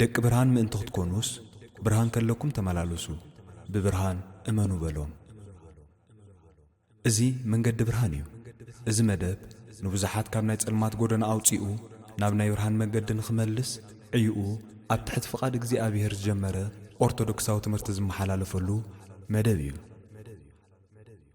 ደቂ ብርሃን ምእንቲ ክትኮኑስ ብርሃን ከለኩም ተመላለሱ ብብርሃን እመኑ በሎም። እዚ መንገዲ ብርሃን እዩ። እዚ መደብ ንብዙሓት ካብ ናይ ጸልማት ጎደና ኣውጺኡ ናብ ናይ ብርሃን መገዲ ንክመልስ ዕዩኡ ኣብ ትሕቲ ፍቓድ እግዚኣብሔር ዝጀመረ ኦርቶዶክሳዊ ትምህርቲ ዝመሓላለፈሉ መደብ እዩ።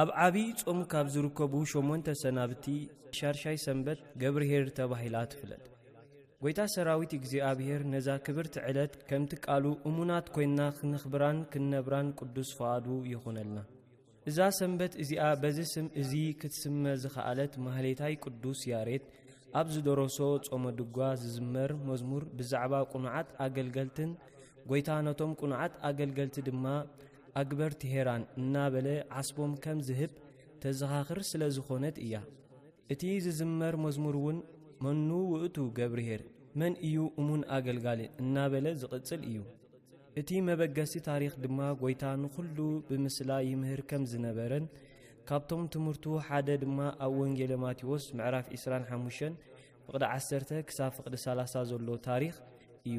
ኣብ ዓቢይ ጾም ካብ ዝርከቡ ሸሞንተ ሰናብቲ ሻርሻይ ሰንበት ገብርሄር ተባሂላ ትፍለጥ ጐይታ ሰራዊት እግዚኣብሔር ነዛ ክብርቲ ዕለት ከምቲ ቃሉ እሙናት ኰይንና ኽነኽብራን ክንነብራን ቅዱስ ፍቓዱ ይኹነልና እዛ ሰንበት እዚኣ በዚ ስም እዚ ክትስመ ዝኸኣለት ማህሌታይ ቅዱስ ያሬት ኣብ ዝደረሶ ጾመ ድጓ ዝዝመር መዝሙር ብዛዕባ ቁኑዓት ኣገልገልትን ጐይታ ነቶም ቁኑዓት ኣገልገልቲ ድማ ኣግበር ቴሄራን እናበለ ዓስቦም ከም ዝህብ ተዘኻኽር ስለ ዝኾነት እያ። እቲ ዝዝመር መዝሙር እውን መኑ ውእቱ ገብርሄር፣ መን እዩ እሙን ኣገልጋሊ፣ እናበለ ዝቕጽል እዩ። እቲ መበገሲ ታሪኽ ድማ ጐይታ ንዅሉ ብምስላ ይምህር ከም ዝነበረን ካብቶም ትምህርቱ ሓደ ድማ ኣብ ወንጌለ ማቴዎስ ምዕራፍ 25 ፍቕዲ 10 ክሳብ ፍቕዲ 30 ዘሎ ታሪኽ እዩ።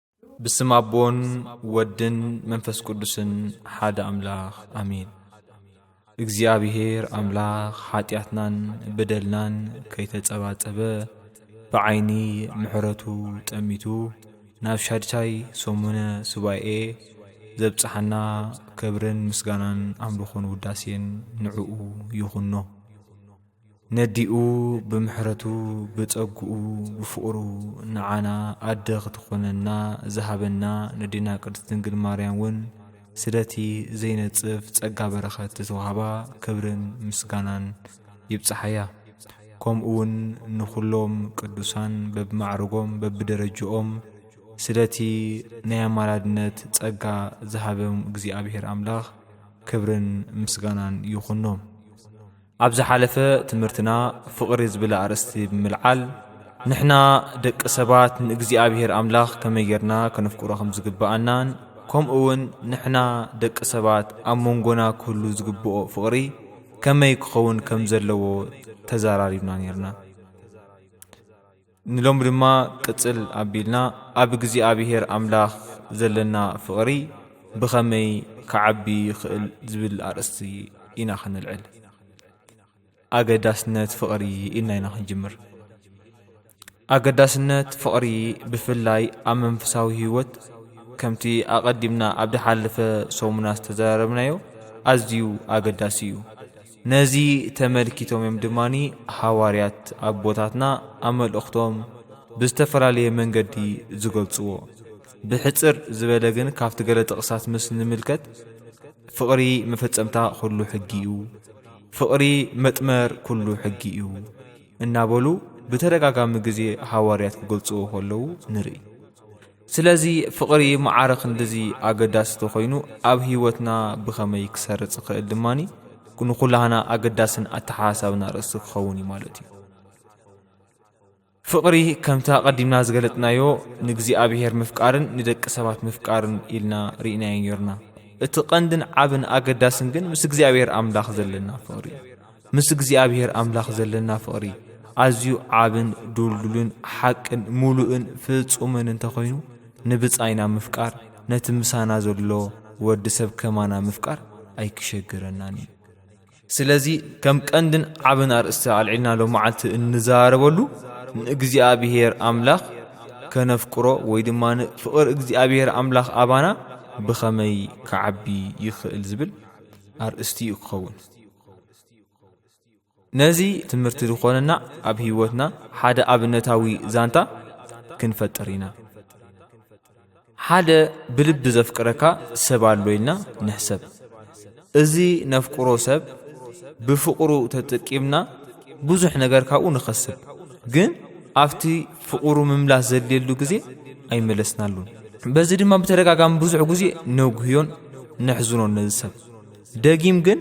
ብስም ኣቦን ወድን መንፈስ ቅዱስን ሓደ ኣምላኽ ኣሜን። እግዚኣብሔር ኣምላኽ ሓጢኣትናን በደልናን ከይተጸባጸበ ብዓይኒ ምሕረቱ ጠሚቱ ናብ ሻድሻይ ሰሙነ ሱባኤ ዘብጽሓና ክብርን ምስጋናን ኣምልኾን ውዳሴን ንዕኡ ይኹኖ። ነዲኡ ብምሕረቱ ብጸግኡ ብፍቕሩ ንዓና ኣደ ክትኾነና ዝሃበና ነዲና ቅድስት ድንግል ማርያም እውን ስለቲ ዘይነጽፍ ጸጋ በረኸት ዝተዋህባ ክብርን ምስጋናን ይብጽሓያ። ከምኡውን ንኹሎም ቅዱሳን በብማዕርጎም በብደረጅኦም ስለቲ ናይ ኣማላድነት ጸጋ ዝሃበም እግዚኣብሔር ኣምላኽ ክብርን ምስጋናን ይኹኖም። ኣብ ዝሓለፈ ትምህርትና ፍቕሪ ዝብል ኣርእስቲ ብምልዓል ንሕና ደቂ ሰባት ንእግዚኣብሔር ኣምላኽ ከመይ ጌርና ከነፍቅሮ ከም ዝግብኣናን ከምኡ እውን ንሕና ደቂ ሰባት ኣብ መንጎና ክህሉ ዝግብኦ ፍቕሪ ከመይ ክኸውን ከም ዘለዎ ተዘራሪብና ኔርና። ንሎሚ ድማ ቅጽል ኣቢልና ኣብ እግዚኣብሔር ኣምላኽ ዘለና ፍቕሪ ብኸመይ ክዓቢ ይኽእል ዝብል ኣርእስቲ ኢና ክንልዕል። ኣገዳስነት ፍቕሪ ኢልና ኢና ክንጅምር። ኣገዳስነት ፍቕሪ ብፍላይ ኣብ መንፈሳዊ ህይወት ከምቲ ኣቐዲምና ኣብ ዝሓለፈ ሰሙና ዝተዘራረብናዮ ኣዝዩ ኣገዳሲ እዩ። ነዚ ተመልኪቶም እዮም ድማ ሃዋርያት ኣቦታትና ኣብ መልእኽቶም ብዝተፈላለየ መንገዲ ዝገልጽዎ። ብሕጽር ዝበለ ግን ካብቲ ገለ ጥቕሳት ምስ ንምልከት ፍቕሪ መፈጸምታ ኩሉ ሕጊ እዩ፣ ፍቕሪ መጥመር ኩሉ ሕጊ እዩ እናበሉ ብተደጋጋሚ ግዜ ሃዋርያት ክገልጽዎ ከለዉ ንርኢ። ስለዚ ፍቕሪ መዓረ ክንድዚ ኣገዳሲ ተኾይኑ ኣብ ህይወትና ብኸመይ ክሰርጽ ይኽእል ድማ ንኹላህና ኣገዳስን ኣተሓሳብና ርእሲ ክኸውን እዩ ማለት እዩ። ፍቕሪ ከምቲ ኣቐዲምና ዝገለጥናዮ ንእግዚኣብሔር ምፍቃርን ንደቂ ሰባት ምፍቃርን ኢልና ርኢናዮ ኔርና። እቲ ቀንድን ዓብን ኣገዳስን ግን ምስ እግዚኣብሔር ኣምላኽ ዘለና ፍቕሪ እዩ። ምስ እግዚኣብሔር ኣምላኽ ዘለና ፍቕሪ ኣዝዩ ዓብን ድልዱልን ሓቅን ምሉእን ፍጹምን እንተ ኾይኑ ንብጻይና ምፍቃር ነቲ ምሳና ዘሎ ወዲ ሰብ ከማና ምፍቃር ኣይክሸግረናን እዩ። ስለዚ ከም ቀንድን ዓብን ኣርእስቲ ኣልዒልና ሎ መዓልቲ እንዛረበሉ ንእግዚኣብሔር ኣምላኽ ከነፍቅሮ ወይ ድማ ፍቕሪ እግዚኣብሔር ኣምላኽ ኣባና ብኸመይ ክዓቢ ይኽእል ዝብል ኣርእስቲ እዩ ክኸውን። ነዚ ትምህርቲ ዝኾነና ኣብ ህይወትና ሓደ ኣብነታዊ ዛንታ ክንፈጥር ኢና ሓደ ብልቢ ዘፍቅረካ ሰብ ኣሎ ኢልና ንሕሰብ እዚ ነፍቅሮ ሰብ ብፍቕሩ ተጠቂምና ብዙሕ ነገር ካብኡ ንኸስብ ግን ኣብቲ ፍቕሩ ምምላስ ዘድልየሉ ግዜ ኣይመለስናሉን በዚ ድማ ብተደጋጋሚ ብዙሕ ግዜ ነጉህዮን ነሕዝኖን ነዚ ሰብ ደጊም ግን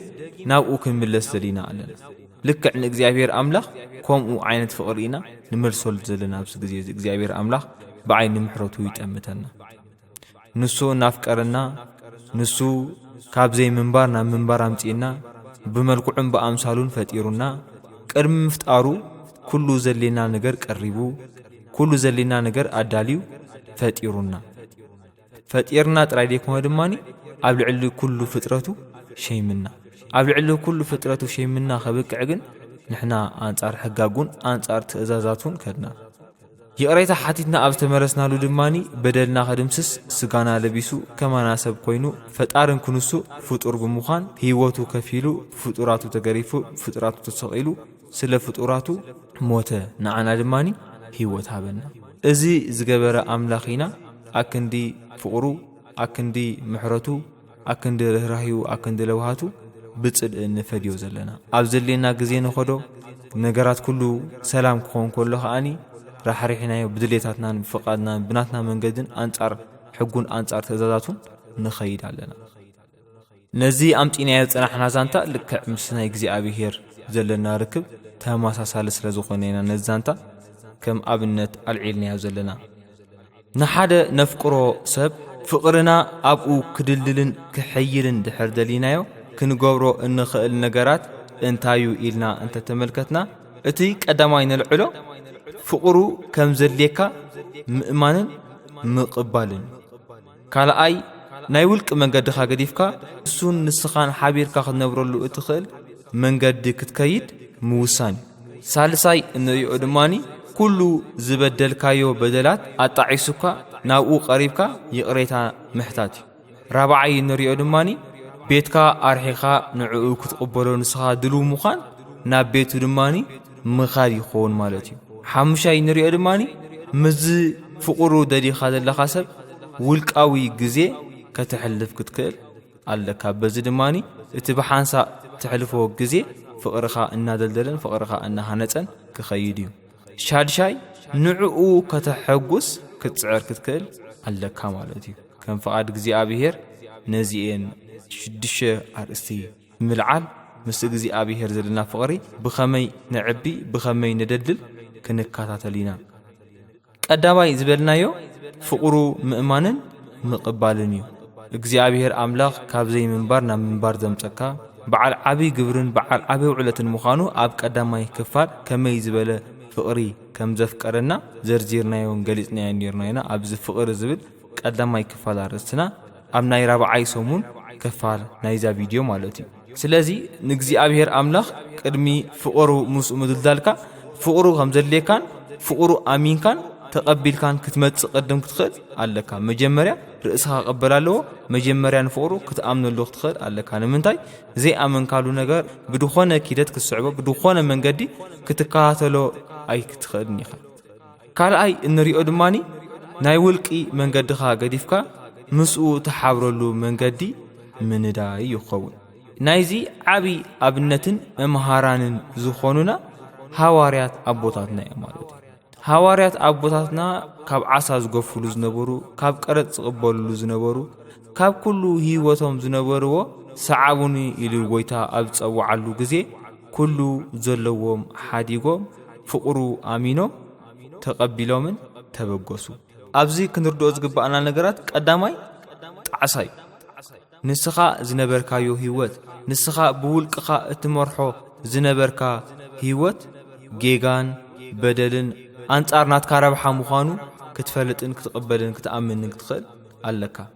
ናብኡ ክንምለስ ዘሊና ኣለና ልክዕ ንእግዚኣብሔር ኣምላኽ ከምኡ ዓይነት ፍቕሪ ኢና ንመልሰሉ ዘለና ኣብዚ ግዜ እዚ እግዚኣብሔር ኣምላኽ ብዓይኒ ምሕረቱ ይጠምተና ንሱ እናፍቀረና ንሱ ካብ ዘይምንባር ናብ ምንባር ኣምጺእና ብመልክዑን ብኣምሳሉን ፈጢሩና ቅድሚ ምፍጣሩ ኩሉ ዘሌና ነገር ቀሪቡ ኩሉ ዘሌና ነገር ኣዳልዩ ፈጢሩና ፈጢርና ጥራይ ዘይኮነ ድማ ኣብ ልዕሊ ኩሉ ፍጥረቱ ሸይምና ኣብ ልዕሊ ኩሉ ፍጥረቱ ሸይምና ከብቅዕ ግን ንሕና ኣንጻር ሕጋጉን ኣንጻር ትእዛዛቱን ከድና ይቕሬታ ሓቲትና ኣብ ዝተመለስናሉ ድማኒ በደልና ከድምስስ ስጋና ለቢሱ ከማና ሰብ ኮይኑ ፈጣርን ክንሱ ፍጡር ብምዃን ህይወቱ ከፊሉ ፍጡራቱ ተገሪፉ ፍጡራቱ ተሰቒሉ ስለ ፍጡራቱ ሞተ ንዓና ድማ ሂወት ሃበና እዚ ዝገበረ ኣምላኽ ኢና ኣክንዲ ፍቅሩ ኣክንዲ ምሕረቱ ኣክንዲ ርህራሂኡ ኣክንዲ ለውሃቱ ብጽልኢ ንፈድዮ ዘለና ኣብ ዘድልየና ግዜ ንኸዶ ነገራት ኩሉ ሰላም ክኾን ከሎ ከኣኒ ራሕሪሕናዮ ብድሌታትናን ብፍቃድናን ብናትና መንገድን ኣንጻር ሕጉን ኣንጻር ትእዛዛቱን ንኸይድ ኣለና። ነዚ ኣምጺእናዮ ዝጸናሕና ዛንታ ልክዕ ምስ ናይ እግዚኣብሄር ዘለና ርክብ ተመሳሳሊ ስለ ዝኾነ ኢና ነዚ ዛንታ ከም ኣብነት ኣልዒልናዮ ዘለና። ንሓደ ነፍቅሮ ሰብ ፍቕርና ኣብኡ ክድልድልን ክሕይልን ድሕር ደሊናዮ ክንገብሮ እንኽእል ነገራት እንታዩ ኢልና እንተ ተመልከትና እቲ ቀዳማይ ነልዕሎ ፍቕሩ ከም ዘድልየካ ምእማንን ምቕባልን እዩ። ካልኣይ ናይ ውልቂ መንገድኻ ገዲፍካ እሱን ንስኻን ሓቢርካ ክትነብረሉ እትኽእል መንገዲ ክትከይድ ምውሳን እዩ ሳልሳይ እንሪኦ ድማኒ ኩሉ ዝበደልካዮ በደላት ኣጣዒሱካ ናብኡ ቀሪብካ ይቕሬታ ምሕታት እዩ ራብዓይ እንሪኦ ድማኒ ቤትካ ኣርሒኻ ንዕኡ ክትቕበሎ ንስኻ ድልው ምዃን ናብ ቤቱ ድማኒ ምኻድ ይኸውን ማለት እዩ። ሓሙሻይ እንሪኦ ድማ ምስዚ ፍቑሩ ደሊኻ ዘለኻ ሰብ ውልቃዊ ግዜ ከተሕልፍ ክትክእል ኣለካ። በዚ ድማ እቲ ብሓንሳእ ተሕልፎ ግዜ ፍቕርኻ እናደልደለን ፍቕርኻ እናሃነፀን ክኸይድ እዩ። ሻድሻይ ንዕኡ ከተሐጉስ ክትፅዕር ክትክእል ኣለካ ማለት እዩ። ከም ፍቓድ እግዚኣብሄር ነዚኤን ሽዱሽተ ኣርእስቲ ምልዓል ምስ እግዚኣብሔር ዘለና ፍቕሪ ብኸመይ ነዕቢ ብኸመይ ነደልድል ክንከታተል ኢና። ቀዳማይ ዝበልናዮ ፍቕሩ ምእማንን ምቕባልን እዩ። እግዚኣብሔር ኣምላኽ ካብ ዘይምንባር ናብ ምንባር ዘምጸካ በዓል ዓብይ ግብርን በዓል ዓብይ ውዕለትን ምዃኑ ኣብ ቀዳማይ ክፋል ከመይ ዝበለ ፍቕሪ ከም ዘፍቀረና ዘርዚርናዮን ገሊጽናዮን ኔርና ኢና። ኣብዚ ፍቕሪ ዝብል ቀዳማይ ክፋል ኣርእስትና ኣብ ናይ ራብዓይ ሰሙን ከፋል ናይዛ ቪድዮ ማለት እዩ ስለዚ ንእግዚኣብሔር ኣምላኽ ቅድሚ ፍቕሩ ምስኡ ምድልዳልካ ፍቕሩ ከም ዘድልየካን ፍቕሩ ኣሚንካን ተቐቢልካን ክትመጽእ ቅድም ክትኽእል ኣለካ መጀመርያ ርእስኻ ክቕበል ኣለዎ መጀመርያ ንፍቕሩ ክትኣምነሉ ክትኽእል ኣለካ ንምንታይ ዘይኣመንካሉ ነገር ብድኾነ ኪደት ክትስዕቦ ብድኾነ መንገዲ ክትከታተሎ ኣይክትኽእልን ኢኻ ካልኣይ እንሪኦ ድማ ናይ ውልቂ መንገድኻ ገዲፍካ ምስኡ ተሓብረሉ መንገዲ ምንዳይ ይኸውን ናይዚ ዓብዪ ኣብነትን መምሃራንን ዝኾኑና ሃዋርያት ኣቦታትና እዮም ማለት እዩ ሃዋርያት ኣቦታትና ካብ ዓሳ ዝገፍሉ ዝነበሩ ካብ ቀረፅ ዝቕበልሉ ዝነበሩ ካብ ኩሉ ህይወቶም ዝነበርዎ ሰዓቡኒ ኢሉ ጎይታ ኣብ ዝፀውዓሉ ግዜ ኩሉ ዘለዎም ሓዲጎም ፍቕሩ ኣሚኖም ተቐቢሎምን ተበገሱ። ኣብዚ ክንርድኦ ዝግባእና ነገራት ቀዳማይ ጣዕሳ እዩ። ንስኻ ዝነበርካዮ ህይወት፣ ንስኻ ብውልቅኻ እትመርሖ ዝነበርካ ህይወት ጌጋን በደልን ኣንጻር ናትካ ረብሓ ምዃኑ ክትፈልጥን ክትቕበልን ክትኣምንን ክትኽእል ኣለካ።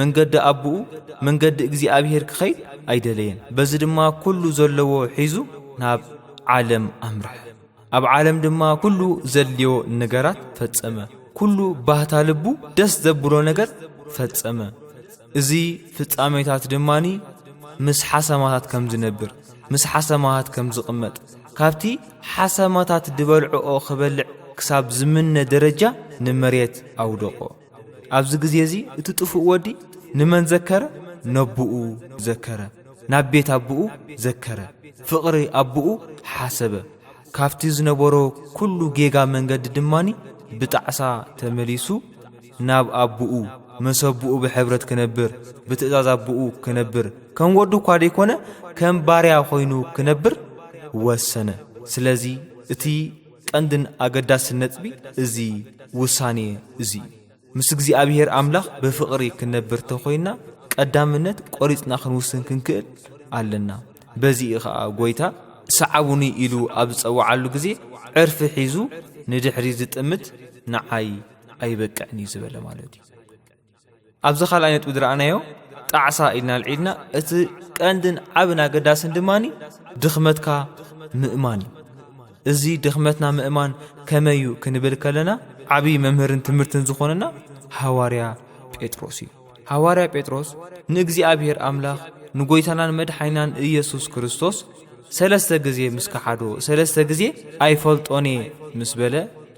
መንገዲ ኣቦኡ መንገዲ እግዚኣብሔር ክኸይድ ኣይደለየን። በዚ ድማ ኩሉ ዘለዎ ሒዙ ናብ ዓለም ኣምርሐ። ኣብ ዓለም ድማ ኩሉ ዘድልዮ ነገራት ፈጸመ ኩሉ ባህታ ልቡ ደስ ዘብሎ ነገር ፈጸመ እዚ ፍጻሜታት ድማኒ ምስ ሓሰማታት ከም ዝነብር ምስ ሓሰማታት ከም ዝቕመጥ ካብቲ ሓሰማታት ዝበልዕኦ ክበልዕ ክሳብ ዝምነ ደረጃ ንመሬት ኣውደቖ ኣብዚ ግዜ እዚ እቲ ጥፉእ ወዲ ንመን ዘከረ? ነቦኡ ዘከረ፣ ናብ ቤት ኣቦኡ ዘከረ፣ ፍቕሪ ኣቦኡ ሓሰበ። ካብቲ ዝነበሮ ኩሉ ጌጋ መንገዲ ድማኒ ብጣዕሳ ተመሊሱ ናብ ኣቦኡ ምስ ኣቦኡ ብሕብረት ክነብር ብትእዛዝ ኣቦኡ ክነብር ከም ወዱ እኳ ደይኮነ ከም ባርያ ኮይኑ ክነብር ወሰነ። ስለዚ እቲ ቀንድን ኣገዳስን ነጥቢ እዚ ውሳኔ እዚ እዩ። ምስ እግዚኣብሔር ኣምላኽ ብፍቕሪ ክንነብር ተኾይንና ቀዳምነት ቆሪጽና ክንውስን ክንክእል ኣለና። በዚ እዩ ኸኣ ጎይታ ሰዓቡኒ ኢሉ ኣብ ዝጸውዓሉ ግዜ ዕርፊ ሒዙ ንድሕሪት ዝጥምት ንዓይ ኣይበቅዕን እዩ ዝበለ ማለት እዩ። ኣብዚ ካልኣይ ነጥቢ ዝረኣናዮ ጣዕሳ ኢልና ኣልዒልና እቲ ቀንድን ዓብን ኣገዳስን ድማ ድኽመትካ ምእማን እዩ እዚ ድኽመትና ምእማን ከመይ እዩ ክንብል ከለና ዓብዪ መምህርን ትምህርትን ዝኾነና ሃዋርያ ጴጥሮስ እዩ ሃዋርያ ጴጥሮስ ንእግዚኣብሔር ኣምላኽ ንጐይታናን መድሓይናን ኢየሱስ ክርስቶስ ሰለስተ ግዜ ምስ ከሓዶ ሰለስተ ግዜ ኣይፈልጦን እየ ምስ በለ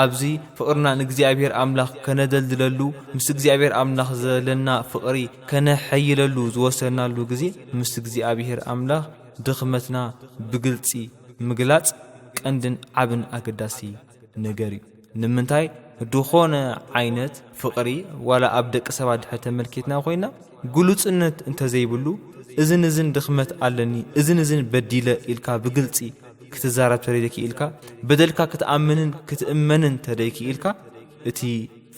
ኣብዚ ፍቕርና ንእግዚኣብሔር ኣምላኽ ከነደልድለሉ ምስ እግዚኣብሔር ኣምላኽ ዘለና ፍቕሪ ከነሐይለሉ ዝወሰናሉ ግዜ ምስ እግዚኣብሔር ኣምላኽ ድኽመትና ብግልፂ ምግላፅ ቀንድን ዓብን ኣገዳሲ ነገር እዩ። ንምንታይ ድኾነ ዓይነት ፍቕሪ ዋላ ኣብ ደቂ ሰባት ድሕር ተመልኪትና ኮይና ግሉጽነት እንተዘይብሉ እዝን እዝን ድኽመት ኣለኒ እዝን እዝን በዲለ ኢልካ ብግልጺ ክትዛረብ ተደይክኢልካ በደልካ ክትኣምንን ክትእመንን ተደይክኢልካ እቲ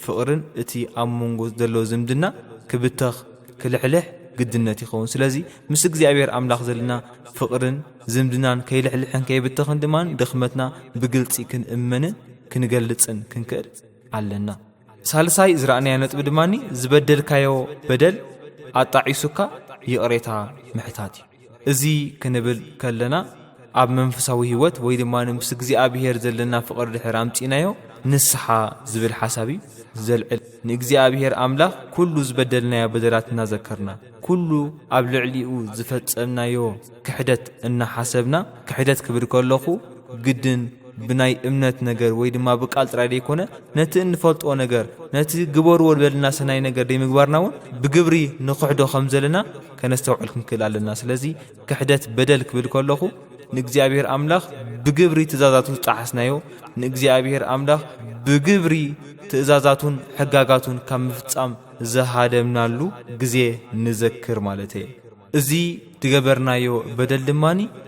ፍቕርን እቲ ኣብ መንጎ ዘሎ ዝምድና ክብተኽ ክልሕልሕ ግድነት ይኸውን ስለዚ ምስ እግዚኣብሔር ኣምላኽ ዘለና ፍቕርን ዝምድናን ከይልሕልሕን ከይብተኽን ድማ ድኽመትና ብግልጺ ክንእመንን ክንገልጽን ክንክእል ኣለና ሳልሳይ ዝረኣናዮ ነጥቢ ድማ ዝበደልካዮ በደል ኣጣዒሱካ ይቕሬታ ምሕታት እዩ እዚ ክንብል ከለና ኣብ መንፈሳዊ ህይወት ወይ ድማ ምስ እግዚኣብሄር ዘለና ፍቕሪ ድሕር ኣምፂናዮ ንስሓ ዝብል ሓሳብ እዩ ዘልዕል ንእግዚኣብሄር ኣምላኽ ኩሉ ዝበደልናዮ በደላት እናዘከርና ኩሉ ኣብ ልዕሊኡ ዝፈጸምናዮ ክሕደት እናሓሰብና ክሕደት ክብል ከለኹ ግድን ብናይ እምነት ነገር ወይ ድማ ብቃል ጥራይ ዘይኮነ ነቲ እንፈልጦ ነገር ነቲ ግበርዎ ዝበለና ሰናይ ነገር ዘይምግባርና እውን ብግብሪ ንክሕዶ ከም ዘለና ከነስተውዕል ክንክእል ኣለና ስለዚ ክሕደት በደል ክብል ከለኹ ንእግዚኣብሔር ኣምላኽ ብግብሪ ትእዛዛቱ ዝጠሓስናዮ ንእግዚኣብሔር ኣምላኽ ብግብሪ ትእዛዛቱን ሕጋጋቱን ካብ ምፍጻም ዝሃደምናሉ ግዜ ንዘክር ማለት እየ። እዚ ዝገበርናዮ በደል ድማ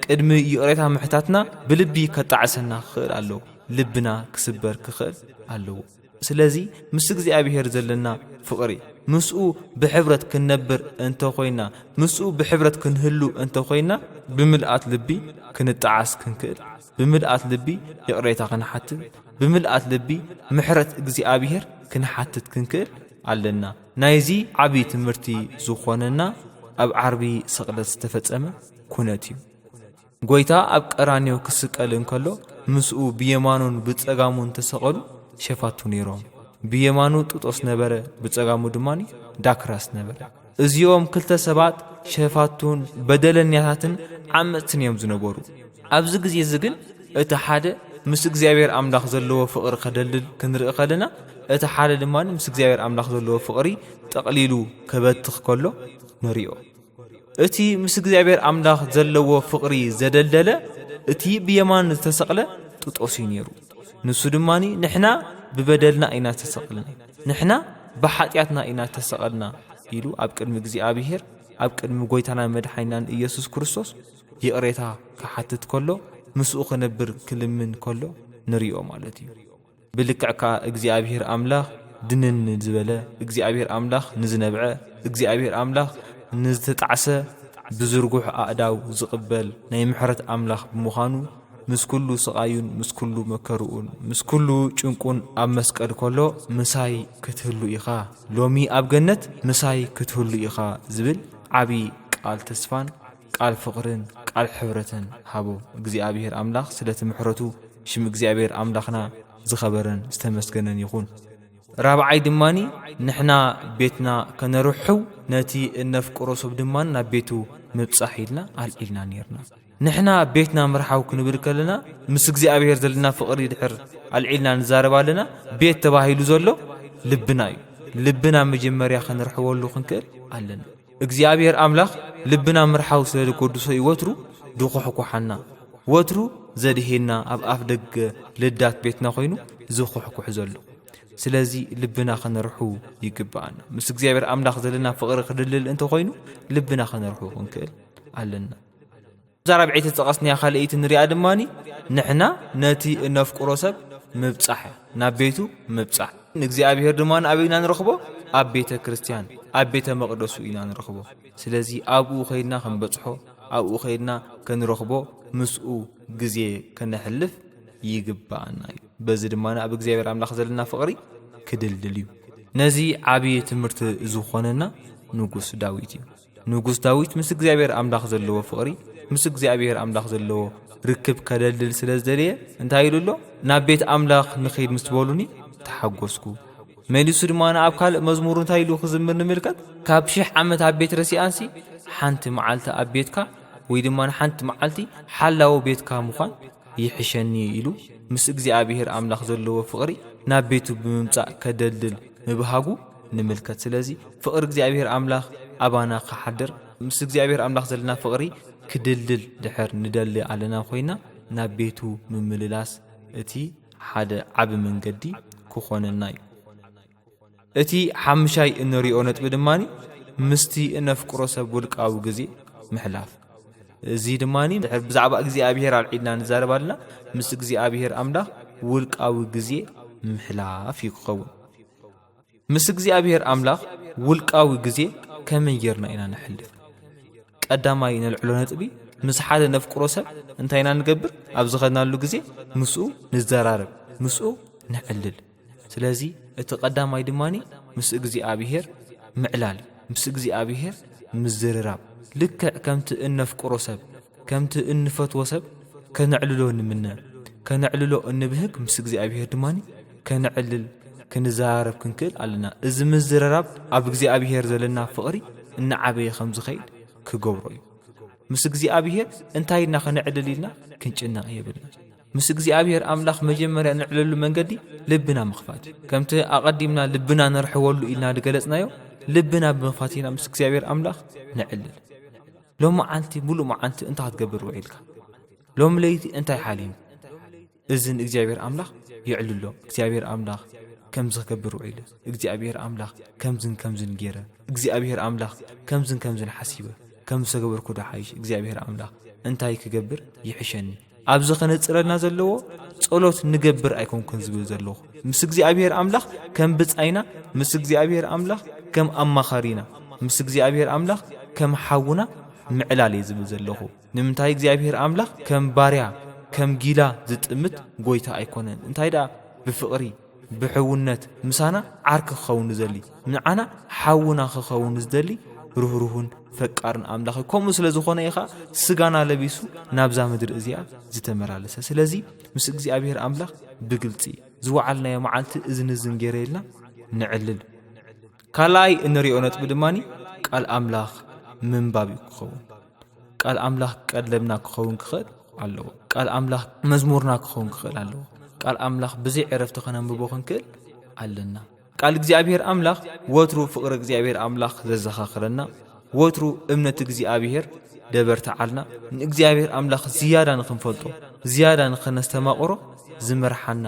ቅድሚ ይቕሬታ ምሕታትና ብልቢ ከጣዕሰና ክኽእል ኣለዎ ልብና ክስበር ክኽእል ኣለዎ ስለዚ ምስ እግዚኣብሔር ዘለና ፍቕሪ ምስኡ ብሕብረት ክንነብር እንተ ኾይና ምስኡ ብሕብረት ክንህሉ እንተ ኾይና ብምልኣት ልቢ ክንጠዓስ ክንክእል ብምልኣት ልቢ ይቕሬታ ክንሓትት ብምልኣት ልቢ ምሕረት እግዚኣብሔር ክንሓትት ክንክእል ኣለና ናይዚ ዓቢ ትምህርቲ ዝኾነና ኣብ ዓርቢ ስቕለት ዝተፈጸመ ኩነት እዩ። ጎይታ ኣብ ቀራንዮ ክስቀል እንከሎ ምስኡ ብየማኑን ብጸጋሙን ተሰቐሉ ሸፋቱ ነይሮም። ብየማኑ ጥጦስ ነበረ፣ ብጸጋሙ ድማ ዳክራስ ነበረ። እዚኦም ክልተ ሰባት ሸፋቱን በደለኛታትን ዓመጽትን እዮም ዝነበሩ። ኣብዚ ግዜ እዚ ግን እቲ ሓደ ምስ እግዚኣብሔር ኣምላኽ ዘለዎ ፍቕሪ ከደልድል ክንርኢ ከለና እቲ ሓደ ድማ ምስ እግዚኣብሔር ኣምላኽ ዘለዎ ፍቕሪ ጠቕሊሉ ከበትኽ ከሎ ንሪኦ እቲ ምስ እግዚኣብሔር ኣምላኽ ዘለዎ ፍቕሪ ዘደልደለ እቲ ብየማን ዝተሰቕለ ጥጦስ እዩ ነይሩ ንሱ ድማ ንሕና ብበደልና ኢና ዝተሰቕልና ንሕና ብሓጢኣትና ኢና ተሰቐልና ኢሉ ኣብ ቅድሚ እግዚኣብሔር ኣብ ቅድሚ ጎይታና መድሓይናን ኢየሱስ ክርስቶስ ይቕሬታ ክሓትት ከሎ ምስኡ ክነብር ክልምን ከሎ ንሪኦ ማለት እዩ። ብልክዕ ከኣ እግዚኣብሄር ኣምላኽ ድንን ንዝበለ፣ እግዚኣብሄር ኣምላኽ ንዝነብዐ፣ እግዚኣብሄር ኣምላኽ ንዝተጣዕሰ ብዝርጉሕ ኣእዳው ዝቕበል ናይ ምሕረት ኣምላኽ ብምዃኑ ምስ ኩሉ ስቓዩን ምስ ኩሉ መከርኡን ምስ ኩሉ ጭንቁን ኣብ መስቀል ከሎ ምሳይ ክትህሉ ኢኻ ሎሚ ኣብ ገነት ምሳይ ክትህሉ ኢኻ ዝብል ዓቢ ቃል ተስፋን ቃል ፍቅርን ቃል ሕብረተን ሃቦ እግዚኣብሔር ኣምላክ ስለቲ ምሕረቱ ሽም እግዚኣብሔር ኣምላክና ዝከበረን ዝተመስገነን ይኩን። ራብዓይ ድማ ንሕና ቤትና ከነርሕው ነቲ እነፍቅሮ ሰብ ድማ ናብ ቤቱ ምብጻሕ ኢልና ኣልዒልና ኔርና። ንሕና ቤትና ምርሓው ክንብል ከለና ምስ እግዚኣብሔር ዘለና ፍቅሪ ድሕር ኣልዒልና ንዛረብ ኣለና ቤት ተባሂሉ ዘሎ ልብና እዩ ልብና መጀመርያ ከነርሕወሉ ክንክእል ኣለና። እግዚኣብሔር ኣምላኽ ልብና ምርሓው ስለ ዝጐድሶ እዩ ወትሩ ድኹሕኩሓና ወትሩ ዘድሄና ኣብ ኣፍ ደገ ልዳት ቤትና ኮይኑ ዝኹሕኩሕ ዘሎ ስለዚ ልብና ከነርሑ ይግብኣና ምስ እግዚኣብሔር ኣምላኽ ዘለና ፍቕሪ ክድልል እንተኾይኑ ልብና ከነርሑ ክንክእል ኣለና እዛ ራብዐይቲ ዝጠቐስናያ ካልኣይቲ ንሪኣ ድማ ንሕና ነቲ እነፍቅሮ ሰብ ምብጻሕ እያ፣ ናብ ቤቱ ምብጻሕ። ንእግዚኣብሄር ድማ ኣበይ ኢና ንረኽቦ? ኣብ ቤተ ክርስቲያን፣ ኣብ ቤተ መቕደሱ ኢና ንረኽቦ። ስለዚ ኣብኡ ከይድና ክንበጽሖ፣ ኣብኡ ከይድና ክንረኽቦ፣ ምስኡ ግዜ ከነሕልፍ ይግብኣና እዩ። በዚ ድማ ኣብ እግዚኣብሄር ኣምላኽ ዘለና ፍቕሪ ክድልድል እዩ። ነዚ ዓብዪ ትምህርቲ ዝኾነና ንጉስ ዳዊት እዩ። ንጉስ ዳዊት ምስ እግዚኣብሔር ኣምላኽ ዘለዎ ፍቕሪ ምስ እግዚኣብሔር ኣምላኽ ዘለዎ ርክብ ከደልድል ስለ ዝደለየ እንታይ ኢሉ ኣሎ ናብ ቤት ኣምላኽ ንኸይድ ምስ በሉኒ ተሓጐስኩ መሊሱ ድማ ንኣብ ካልእ መዝሙር እንታይ ኢሉ ክዝምር ንምልከት ካብ ሽሕ ዓመት ኣብ ቤት ረሲኣንሲ ሓንቲ መዓልቲ ኣብ ቤትካ ወይ ድማ ንሓንቲ መዓልቲ ሓላዊ ቤትካ ምዃን ይሕሸኒ ኢሉ ምስ እግዚኣብሔር ኣምላኽ ዘለዎ ፍቕሪ ናብ ቤቱ ብምምጻእ ከደልድል ምብሃጉ ንምልከት ስለዚ ፍቅሪ እግዚኣብሔር ኣምላክ ኣባና ክሓድር ምስ እግዚኣብሔር ኣምላክ ዘለና ፍቅሪ ክድልድል ድሕር ንደሊ ኣለና ኮይና ናብ ቤቱ ምምልላስ እቲ ሓደ ዓቢ መንገዲ ክኾነና እዩ እቲ ሓምሻይ እንሪኦ ነጥቢ ድማ ምስቲ እነፍቅሮ ሰብ ውልቃዊ ግዜ ምሕላፍ እዚ ድማ ድሕር ብዛዕባ እግዚኣብሔር ኣልዒልና ንዛረብ ኣለና ምስ እግዚኣብሔር ኣምላክ ውልቃዊ ግዜ ምሕላፍ እዩ ክኸውን ምስ እግዚኣብሔር ኣምላኽ ውልቃዊ ግዜ ከመይ ጌርና ኢና ነሕልፍ? ቀዳማይ ነልዕሎ ነጥቢ ምስ ሓደ ነፍቅሮ ሰብ እንታይ ኢና ንገብር? ኣብ ዝኸድናሉ ግዜ ምስኡ ንዘራረብ፣ ምስኡ ነዕልል። ስለዚ እቲ ቀዳማይ ድማ ምስ እግዚኣብሔር ምዕላል እዩ፣ ምስ እግዚኣብሔር ምዝርራብ። ልክዕ ከምቲ እነፍቅሮ ሰብ፣ ከምቲ እንፈትዎ ሰብ ከነዕልሎ ንምነ፣ ከነዕልሎ እንብህግ ምስ እግዚኣብሔር ድማ ከነዕልል ክንዘራረብ ክንክእል ኣለና። እዚ ምዝርራብ ኣብ እግዚኣብሄር ዘለና ፍቕሪ እናዓበየ ከም ዝኸይድ ክገብሮ እዩ። ምስ እግዚኣብሄር እንታይ ኢልና ከነዕልል ኢልና ክንጭነቕ የብልና። ምስ እግዚኣብሄር ኣምላኽ መጀመርያ ንዕለሉ መንገዲ ልብና ምኽፋት እዩ። ከምቲ ኣቐዲምና ልብና ንርሕወሉ ኢልና ዝገለጽናዮ ልብና ብምኽፋት ኢና ምስ እግዚኣብሄር ኣምላኽ ንዕልል። ሎሚ መዓልቲ ምሉእ መዓልቲ እንታይ ክትገብር ውዒልካ? ሎሚ ለይቲ እንታይ ሓሊም? እዚ ንእግዚኣብሔር ኣምላኽ የዕልሎ እግዚኣብሔር ኣምላኽ ከምዚ ክገብር ውዒለ እግዚኣብሔር ኣምላኽ ከምዝን ከምዝን ገይረ እግዚኣብሔር ኣምላኽ ከምዝን ከምዝን ሓሲበ ከም ዝተገበርኩ ዶ ሓይሽ እግዚኣብሔር ኣምላኽ እንታይ ክገብር ይሕሸኒ ኣብዚ ኸነጽረልና ዘለዎ ጸሎት ንገብር ኣይኮንኩን ዝብል ዘለኹ ምስ እግዚኣብሔር ኣምላኽ ከም ብጻይና ምስ እግዚኣብሔር ኣምላኽ ከም ኣማኻሪና ምስ እግዚኣብሔር ኣምላኽ ከም ሓውና ምዕላል እየ ዝብል ዘለኹ ንምንታይ እግዚኣብሄር ኣምላኽ ከም ባርያ ከም ጊላ ዝጥምት ጎይታ ኣይኮነን እንታይ ደኣ ብፍቅሪ ብሕውነት ምሳና ዓርኪ ክኸውን ዝደሊ ንዓና ሓውና ክኸውን ዝደሊ ርህሩህን ፈቃርን ኣምላኽ እዩ ከምኡ ስለ ዝኾነ ኢኻ ስጋና ለቢሱ ናብዛ ምድሪ እዚኣ ዝተመላለሰ ስለዚ ምስ እግዚኣብሄር ኣምላኽ ብግልፂ ዝወዓልናዮ መዓልቲ እዝኒ እዝን ገይረ ኢልና ንዕልል ካልኣይ እንሪኦ ነጥቢ ድማኒ ቃል ኣምላኽ ምንባብ እዩ ክኸውን ቃል ኣምላኽ ቀለብና ክኸውን ክኽእል ኣለዎ ቃል ኣምላኽ መዝሙርና ክኸውን ክኽእል ኣለዎ ቃል ኣምላኽ ብዘይ ዕረፍቲ ከነንብቦ ክንክእል ኣለና ቃል እግዚኣብሔር ኣምላኽ ወትሩ ፍቕሪ እግዚኣብሔር ኣምላኽ ዘዘኻኽረና ወትሩ እምነት እግዚኣብሔር ደበርትዓልና ንእግዚኣብሔር ኣምላኽ ዝያዳ ንኽንፈልጦ ዝያዳ ንኽነስተማቕሮ ዝመርሓና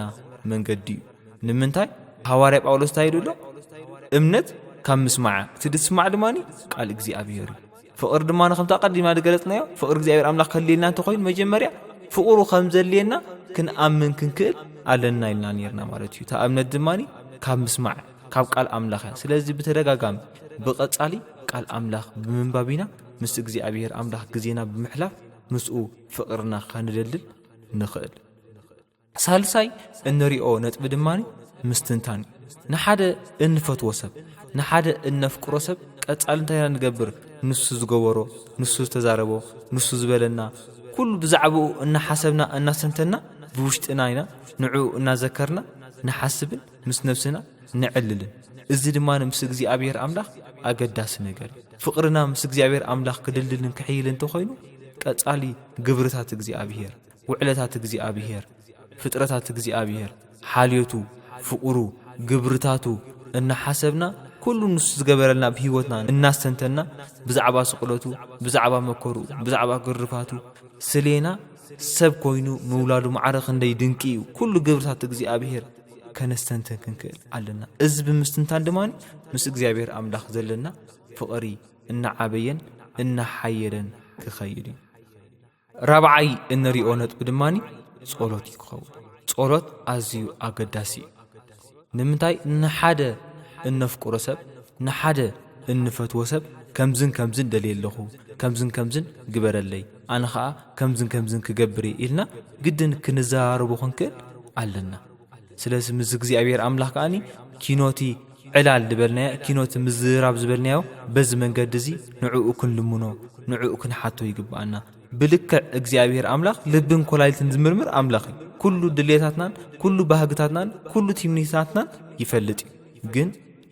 መንገዲ እዩ ንምንታይ ሃዋርያ ጳውሎስ እንታይ ኢሉ ኣሎ እምነት ካብ ምስማዕ እቲ ድስማዕ ድማ ቃል እግዚኣብሔር እዩ ፍቕሪ ድማ ከምቲ ኣቐዲምና ዝገለጽናዮ ፍቕሪ እግዚኣብሔር ኣምላኽ ከልየልና እንተኾይኑ መጀመርያ ፍቕሩ ከም ዘድልየና ክንኣምን ክንክእል ኣለና ኢልና ነርና ማለት እዩ እታ እምነት ድማ ካብ ምስማዕ ካብ ቃል ኣምላኽ እያ ስለዚ ብተደጋጋሚ ብቐጻሊ ቃል ኣምላኽ ብምንባብ ኢና ምስ እግዚኣብሔር ኣምላኽ ግዜና ብምሕላፍ ምስኡ ፍቕርና ከንደልድል ንኽእል ሳልሳይ እንሪኦ ነጥቢ ድማ ምስትንታን እዩ። ንሓደ እንፈትዎ ሰብ፣ ንሓደ እነፍቅሮ ሰብ ቀጻሊ እንታይ ኢና ንገብር? ንሱ ዝገበሮ፣ ንሱ ዝተዛረቦ፣ ንሱ ዝበለና ኩሉ ብዛዕባኡ እናሓሰብና እናስተንተንና ብውሽጥና ኢና ንዕኡ እናዘከርና ንሓስብን ምስ ነብስና ነዕልልን። እዚ ድማ ምስ እግዚኣብሔር ኣምላኽ ኣገዳሲ ነገር እዩ። ፍቕርና ምስ እግዚኣብሔር ኣምላኽ ክድልድልን ክሕይልን እንተኾይኑ ቀጻሊ ግብርታት እግዚኣብሔር፣ ውዕለታት እግዚኣብሔር፣ ፍጥረታት እግዚኣብሔር፣ ሓልዮቱ፣ ፍቕሩ፣ ግብርታቱ እናሓሰብና ኩሉ ንሱ ዝገበረልና ኣብ ህይወትና እናስተንተና ብዛዕባ ስቕለቱ፣ ብዛዕባ መከሩ፣ ብዛዕባ ግርፋቱ ስሌና ሰብ ኮይኑ ምውላዱ ማዕረ ክንደይ ድንቂ እዩ። ኩሉ ግብርታት እግዚኣብሔር ከነስተንትን ክንክእል ኣለና። እዚ ብምስትንታን ድማ ምስ እግዚኣብሔር ኣምላኽ ዘለና ፍቕሪ እናዓበየን እናሓየለን ክኸይድ እዩ። ራብዓይ እንሪኦ ነጥቢ ድማ ጸሎት እዩ ክኸውን ጸሎት ኣዝዩ ኣገዳሲ እዩ ንምንታይ ንሓደ እነፍቅሮ ሰብ ንሓደ እንፈትዎ ሰብ ከምዝን ከምዝን ደልየ ኣለኹ ከምዝን ከምዝን ግበረለይ ኣነ ኸዓ ከምዝን ከምዝን ክገብር እየ ኢልና ግድን ክንዘራረቦ ክንክእል ኣለና ስለዚ ምስ እግዚኣብሔር ኣምላኽ ከኣኒ ኪኖቲ ዕላል ዝበልናዮ ኪኖቲ ምዝራብ ዝበልናዮ በዚ መንገዲ እዚ ንዕኡ ክንልምኖ ንዕኡ ክንሓቶ ይግብኣና ብልክዕ እግዚኣብሔር ኣምላኽ ልብን ኮላይልትን ዝምርምር ኣምላኽ እዩ ኩሉ ድሌታትናን ኩሉ ባህግታትናን ኩሉ ትምኒታትናን ይፈልጥ እዩ ግን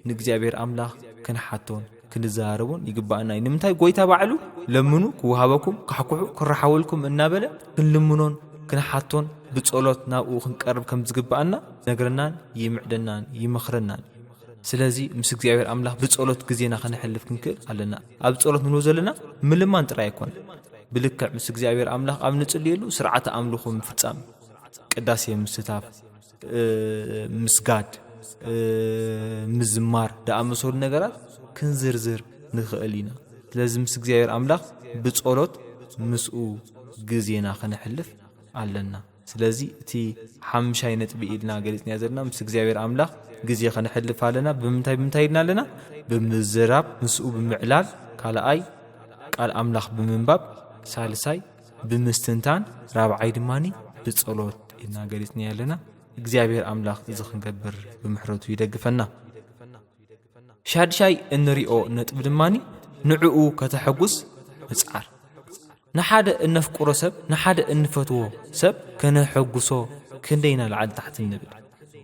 ንእግዚኣብሔር ኣምላኽ ክንሓቶን ክንዘራረቦን ይግባእና እዩ ንምንታይ ጎይታ ባዕሉ ለምኑ ክውሃበኩም ካሕኩሑ ክረሓወልኩም እናበለ ክንልምኖን ክንሓቶን ብጸሎት ናብኡ ክንቀርብ ከም ዝግባኣና ነግረናን ይምዕደናን ይመኽረናን ስለዚ ምስ እግዚኣብሔር ኣምላኽ ብጸሎት ግዜና ከነሕልፍ ክንክእል ኣለና ኣብ ጸሎት ንብሎ ዘለና ምልማን ጥራይ ኣይኮነ ብልክዕ ምስ እግዚኣብሔር ኣምላኽ ኣብ ንጽልየሉ ስርዓተ ኣምልኹ ምፍጻም ቅዳሴ ምስታፍ ምስጋድ ምዝማር ዝኣመሰሉ ነገራት ክንዝርዝር ንኽእል ኢና ስለዚ ምስ እግዚኣብሔር ኣምላኽ ብጸሎት ምስኡ ግዜና ኸነሕልፍ ኣለና ስለዚ እቲ ሓምሻይ ነጥቢ ኢልና ገሊጽና ዘለና ምስ እግዚኣብሔር ኣምላኽ ግዜ ኸነሕልፍ ኣለና ብምንታይ ብምንታይ ኢልና ኣለና ብምዝራብ ምስኡ ብምዕላል ካልኣይ ቃል ኣምላኽ ብምንባብ ሳልሳይ ብምስትንታን ራብዓይ ድማ ብጸሎት ኢልና ገሊጽናዮ ኣለና። እግዚኣብሔር ኣምላኽ እዚ ክንገብር ብምሕረቱ ይደግፈና። ሻድሻይ እንሪኦ ነጥቢ ድማ ንዕኡ ከተሐጉስ ምጽዓር። ንሓደ እነፍቅሮ ሰብ ንሓደ እንፈትዎ ሰብ ከነሐጉሶ ክንደይና ላዕሊ ታሕቲ ንብል።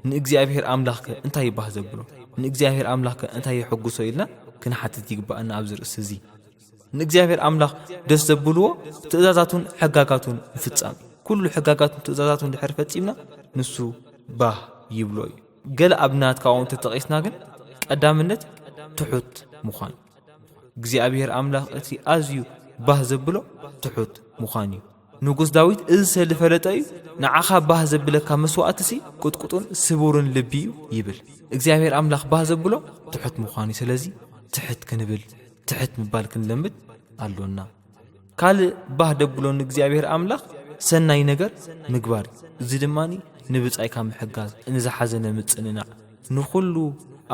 ንእግዚኣብሔር ኣምላኽ ከ እንታይ ይባህ ዘብሎ ንእግዚኣብሔር ኣምላኽ ከ እንታይ የሐጉሶ ኢልና ክንሓትት ይግባኣና ኣብዚ ርእሲ እዚ። ንእግዚኣብሔር ኣምላኽ ደስ ዘብልዎ ትእዛዛቱን ሕጋጋቱን ምፍጻም እዩ ኩሉ ሕጋጋቱን ትእዛዛቱን ድሕር ፈጺምና ንሱ ባህ ይብሎ እዩ ገለ ኣብናት ካብኡ እንተጠቒስና ግን ቀዳምነት ትሑት ምዃን እግዚኣብሔር ኣምላኽ እቲ ኣዝዩ ባህ ዘብሎ ትሑት ምዃን እዩ ንጉስ ዳዊት እዚ ሰሊ ፈለጠ እዩ፣ ንዓኻ ባህ ዘብለካ መስዋእትሲ ቁጥቁጡን ስቡርን ልቢ እዩ ይብል። እግዚኣብሔር ኣምላኽ ባህ ዘብሎ ትሑት ምዃን እዩ። ስለዚ ትሕት ክንብል ትሕት ምባል ክንለምድ ኣሎና። ካልእ ባህ ደብሎ ንእግዚኣብሔር ኣምላኽ ሰናይ ነገር ምግባር እዩ። እዚ ድማ ንብጻይካ ምሕጋዝ፣ ንዝሓዘነ ምጽንናዕ፣ ንኹሉ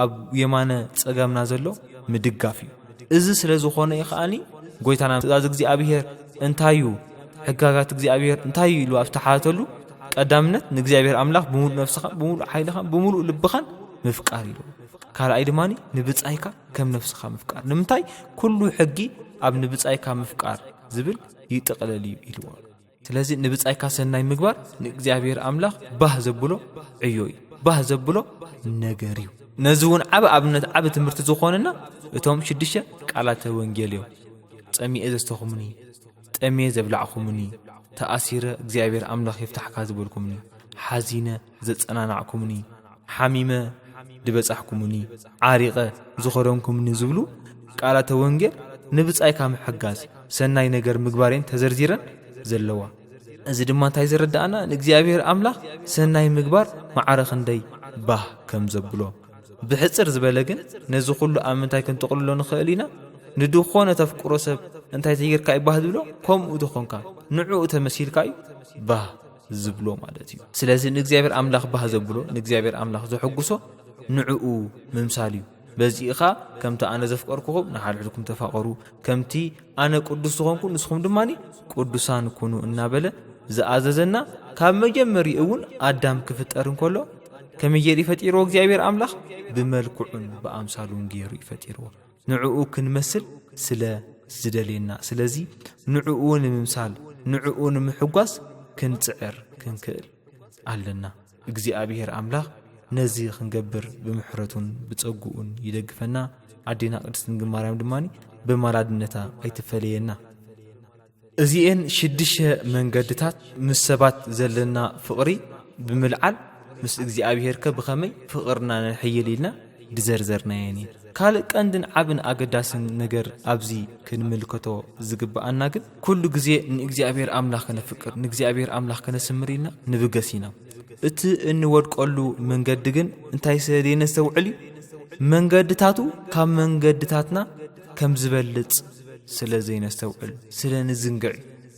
ኣብ የማነ ጸጋምና ዘሎ ምድጋፍ እዩ እዚ ስለ ዝኾነ እዩ ከኣኒ ጎይታና ትእዛዝ እግዚኣብሔር እንታይ እዩ ሕጋጋት እግዚኣብሔር እንታይ እዩ ኢሉ ኣብ ዝተሓተሉ ቀዳምነት ንእግዚኣብሔር ኣምላኽ ብምሉእ ነፍስኻ ብምሉእ ሓይልኻ ብምሉእ ልብኻን ምፍቃር ኢሉ ካልኣይ ድማ ንብጻይካ ከም ነፍስኻ ምፍቃር ንምንታይ ኩሉ ሕጊ ኣብ ንብጻይካ ምፍቃር ዝብል ይጥቕለል እዩ ኢልዎ ስለዚ ንብጻይካ ሰናይ ምግባር ንእግዚኣብሔር ኣምላኽ ባህ ዘብሎ ዕዮ እዩ ባህ ዘብሎ ነገር እዩ ነዚ እውን ዓብ ኣብነት ዓብ ትምህርቲ ዝኾንና እቶም ሽዱሽተ ቃላተ ወንጌል እዮም ጸሚኤ ዘስተኹምኒ ጠሜ ዘብላዕኹምኒ ተኣሲረ እግዚኣብሔር ኣምላኽ የፍታሕካ ዝበልኩምኒ ሓዚነ ዘጸናናዕኩምኒ፣ ሓሚመ ድበጻሕኩምኒ፣ ዓሪቐ ዝኸደንኩምኒ ዝብሉ ቃላተ ወንጌል ንብጻይካ ምሕጋዝ፣ ሰናይ ነገር ምግባር እየን ተዘርዚረን ዘለዋ። እዚ ድማ እንታይ ዘረድኣና ንእግዚኣብሔር ኣምላኽ ሰናይ ምግባር ማዕረ ክንደይ ባህ ከም ዘብሎ። ብሕጽር ዝበለ ግን ነዚ ኩሉ ኣብ ምንታይ ክንጥቕልሎ ንኽእል ኢና? ንድኾነ ተፍቅሮ ሰብ እንታይ ተጌርካ እዩ ባህ ዝብሎ? ከምኡ ተኾንካ ንዕኡ ተመሲልካ እዩ ባህ ዝብሎ ማለት እዩ ስለዚ ንእግዚኣብሔር ኣምላኽ ባህ ዘብሎ ንእግዚኣብሔር ኣምላኽ ዘሐጉሶ ንዕኡ ምምሳል እዩ በዚ ኢኻ ከምቲ ኣነ ዘፍቀርኩኹም ንሓድሕድኩም ተፋቐሩ ከምቲ ኣነ ቅዱስ ዝኾንኩ ንስኹም ድማ ቅዱሳን ኩኑ እናበለ ዝኣዘዘና ካብ መጀመሪ እውን ኣዳም ክፍጠር እንከሎ ከመይ ገይሩ ይፈጢርዎ እግዚኣብሔር ኣምላኽ ብመልክዑን ብኣምሳሉን ገይሩ ይፈጢርዎ ንዕኡ ክንመስል ስለ ዝደልየና። ስለዚ ንዕኡ ንምምሳል፣ ንዕኡ ንምሕጓስ ክንጽዕር ክንክእል ኣለና። እግዚኣብሄር ኣምላኽ ነዚ ክንገብር ብምሕረቱን ብጸግኡን ይደግፈና። ኣዴና ቅድስት ድንግል ማርያም ድማ በማላድነታ ኣይትፈለየና። እዚኤን ሽድሸ መንገድታት ምስ ሰባት ዘለና ፍቕሪ ብምልዓል ምስ እግዚኣብሔርከ ብኸመይ ፍቕርና ነሕይል ኢልና ድዘርዘርናየን እየን ካልእ ቀንድን ዓብን ኣገዳስን ነገር ኣብዚ ክንምልከቶ ዝግብኣና ግን ኩሉ ግዜ ንእግዚኣብሔር ኣምላኽ ከነፍቅር ንእግዚኣብሔር ኣምላኽ ከነስምር ኢልና ንብገስ ኢና እቲ እንወድቀሉ መንገዲ ግን እንታይ ስለ ደየነስተውዕል እዩ መንገድታቱ ካብ መንገድታትና ከም ዝበልጽ ስለ ዘይነስተውዕል፣ ስለ ንዝንግዕ፣